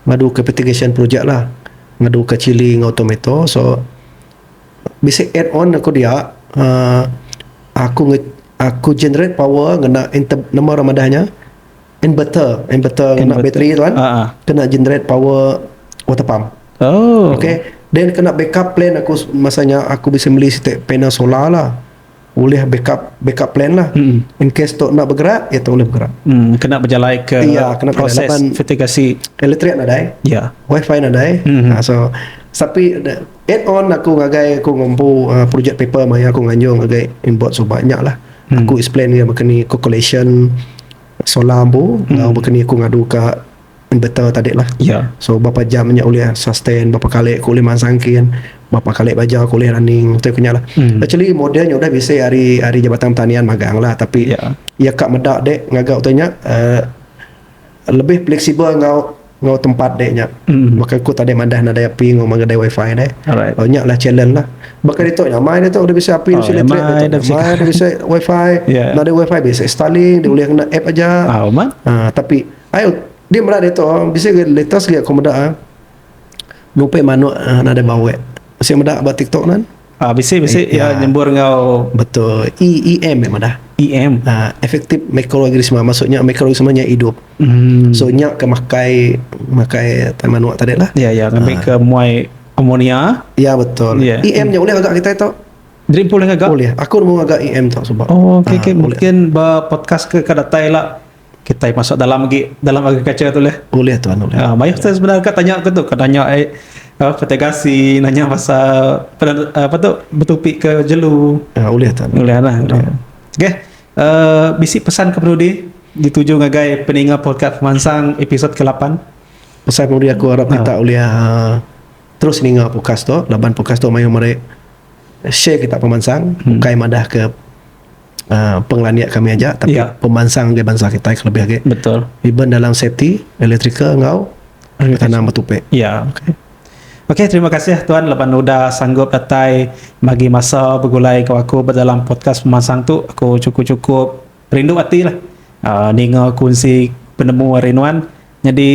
Speaker 1: ngadu ke petigasyen projek lah ngadu ke chili enggau tometo so Bisi add on aku dia uhh aku nge aku generate power ngena inter nama orang madah nya inverter inverter ngena bateri tu kan Aa. kena generate power water pump. Oh. Okay. Then kena backup plan aku s- masa nya aku bisi meli siti panel solar lah. ulih backup backup plan lah in case tu enda begerak iya tu ulih begerak kena bejalai
Speaker 2: ke iya kena bejalai proses laban mitigasi elektrik nadai
Speaker 1: iya wifi
Speaker 2: nadai mm-hmm.
Speaker 1: so tapi add on aku ngagai aku ngempu uh, project paper maya aku nganjur ngagai inboard so banyak lah mm. aku explain dia bakani calculation solar ambu mm. bakani aku ngadu ke Betul tadi lah iya. So bapa jam
Speaker 2: nya
Speaker 1: ulih sustain bapa kali ku ulih mansang kin bapa kali baja ku ulih running ntu ku nya lah. Hmm. Actually model nya udah bisi ari ari jabatan pertanian magang lah tapi yeah. iya ka meda dek ngaga utai nya uh, lebih fleksibel enggau enggau tempat dek nya. Hmm. Baka ku tadi madah nadai api enggau magadai wifi deh. Alright. Oh nya lah challenge lah. Baka ditu nya mai ditu udah bisi api oh, bisi elektrik ditu. Dah bisi, bisi wifi. yeah. Nadai wifi bisi Starlink dia ulih kena app aja. Ah, uh, tapi Ayau dia meda ditu bisi ga latest ga aku meda nupai manuk nadai bawek. Masih meda ba tiktok nan. Ah bisi bisi iya
Speaker 2: nyembur enggau betul EEM
Speaker 1: nya madah. EM uh, effective microorganism maksudnya microorganism nya hidup. Hmm. So nya ke makai makai manuk tadi lah. Ya ya ngambil ke muai
Speaker 2: ammonia. Ya betul.
Speaker 1: Yeah. EM nya boleh agak kita tu. Dream pool agak.
Speaker 2: Boleh. Aku mau agak EM
Speaker 1: tu sebab. Oh okey okey mungkin
Speaker 2: ba podcast ke ke datai lah Kitai masuk dalam agi dalam agriculture tu leh. Ulih tuan ulih. Ha,
Speaker 1: mayuh tu sebenarnya kat tanya
Speaker 2: ke tu, ke tanya eh, apa petai gasi, nanya pasal apa tu betupi ke jelu. Ha, ulih tuan. Ulih
Speaker 1: lah.
Speaker 2: Okey. Uh, bisi pesan ke perlu di dituju ngagai peninga podcast pemansang episod ke-8. Pesan perlu di
Speaker 1: aku harap kita ha. ulih uh, terus ninga podcast tu laban podcast tu mayuh meri share kita pemansang hmm. bukai madah ke uh, pengelania kami aja tapi yeah. pemansang dia bansa kita kelebih lagi betul even dalam
Speaker 2: safety
Speaker 1: elektrika ngau tanam betupe ya yeah.
Speaker 2: okay. Okey, terima kasih tuan lepas udah sanggup datai bagi masa bergulai ke aku dalam podcast pemansang tu. Aku cukup-cukup rindu hati lah. Uh, ninga kunci penemu hari nuan. Jadi,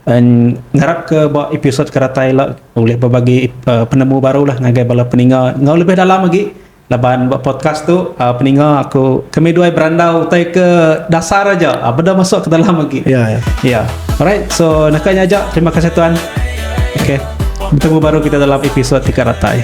Speaker 2: um, ngarap ke buat episod ke datai lah. Boleh berbagi uh, penemu baru lah ngagai bala peninga. Ngau lebih dalam lagi. Laban ba podcast tu peninga aku kami duai berandau utai ke dasar aja beda masuk ke dalam agi. Ya ya. Ya. Alright so naka nya aja terima kasih tuan. Okay. Bertemu baru kita dalam episod tiga ratai.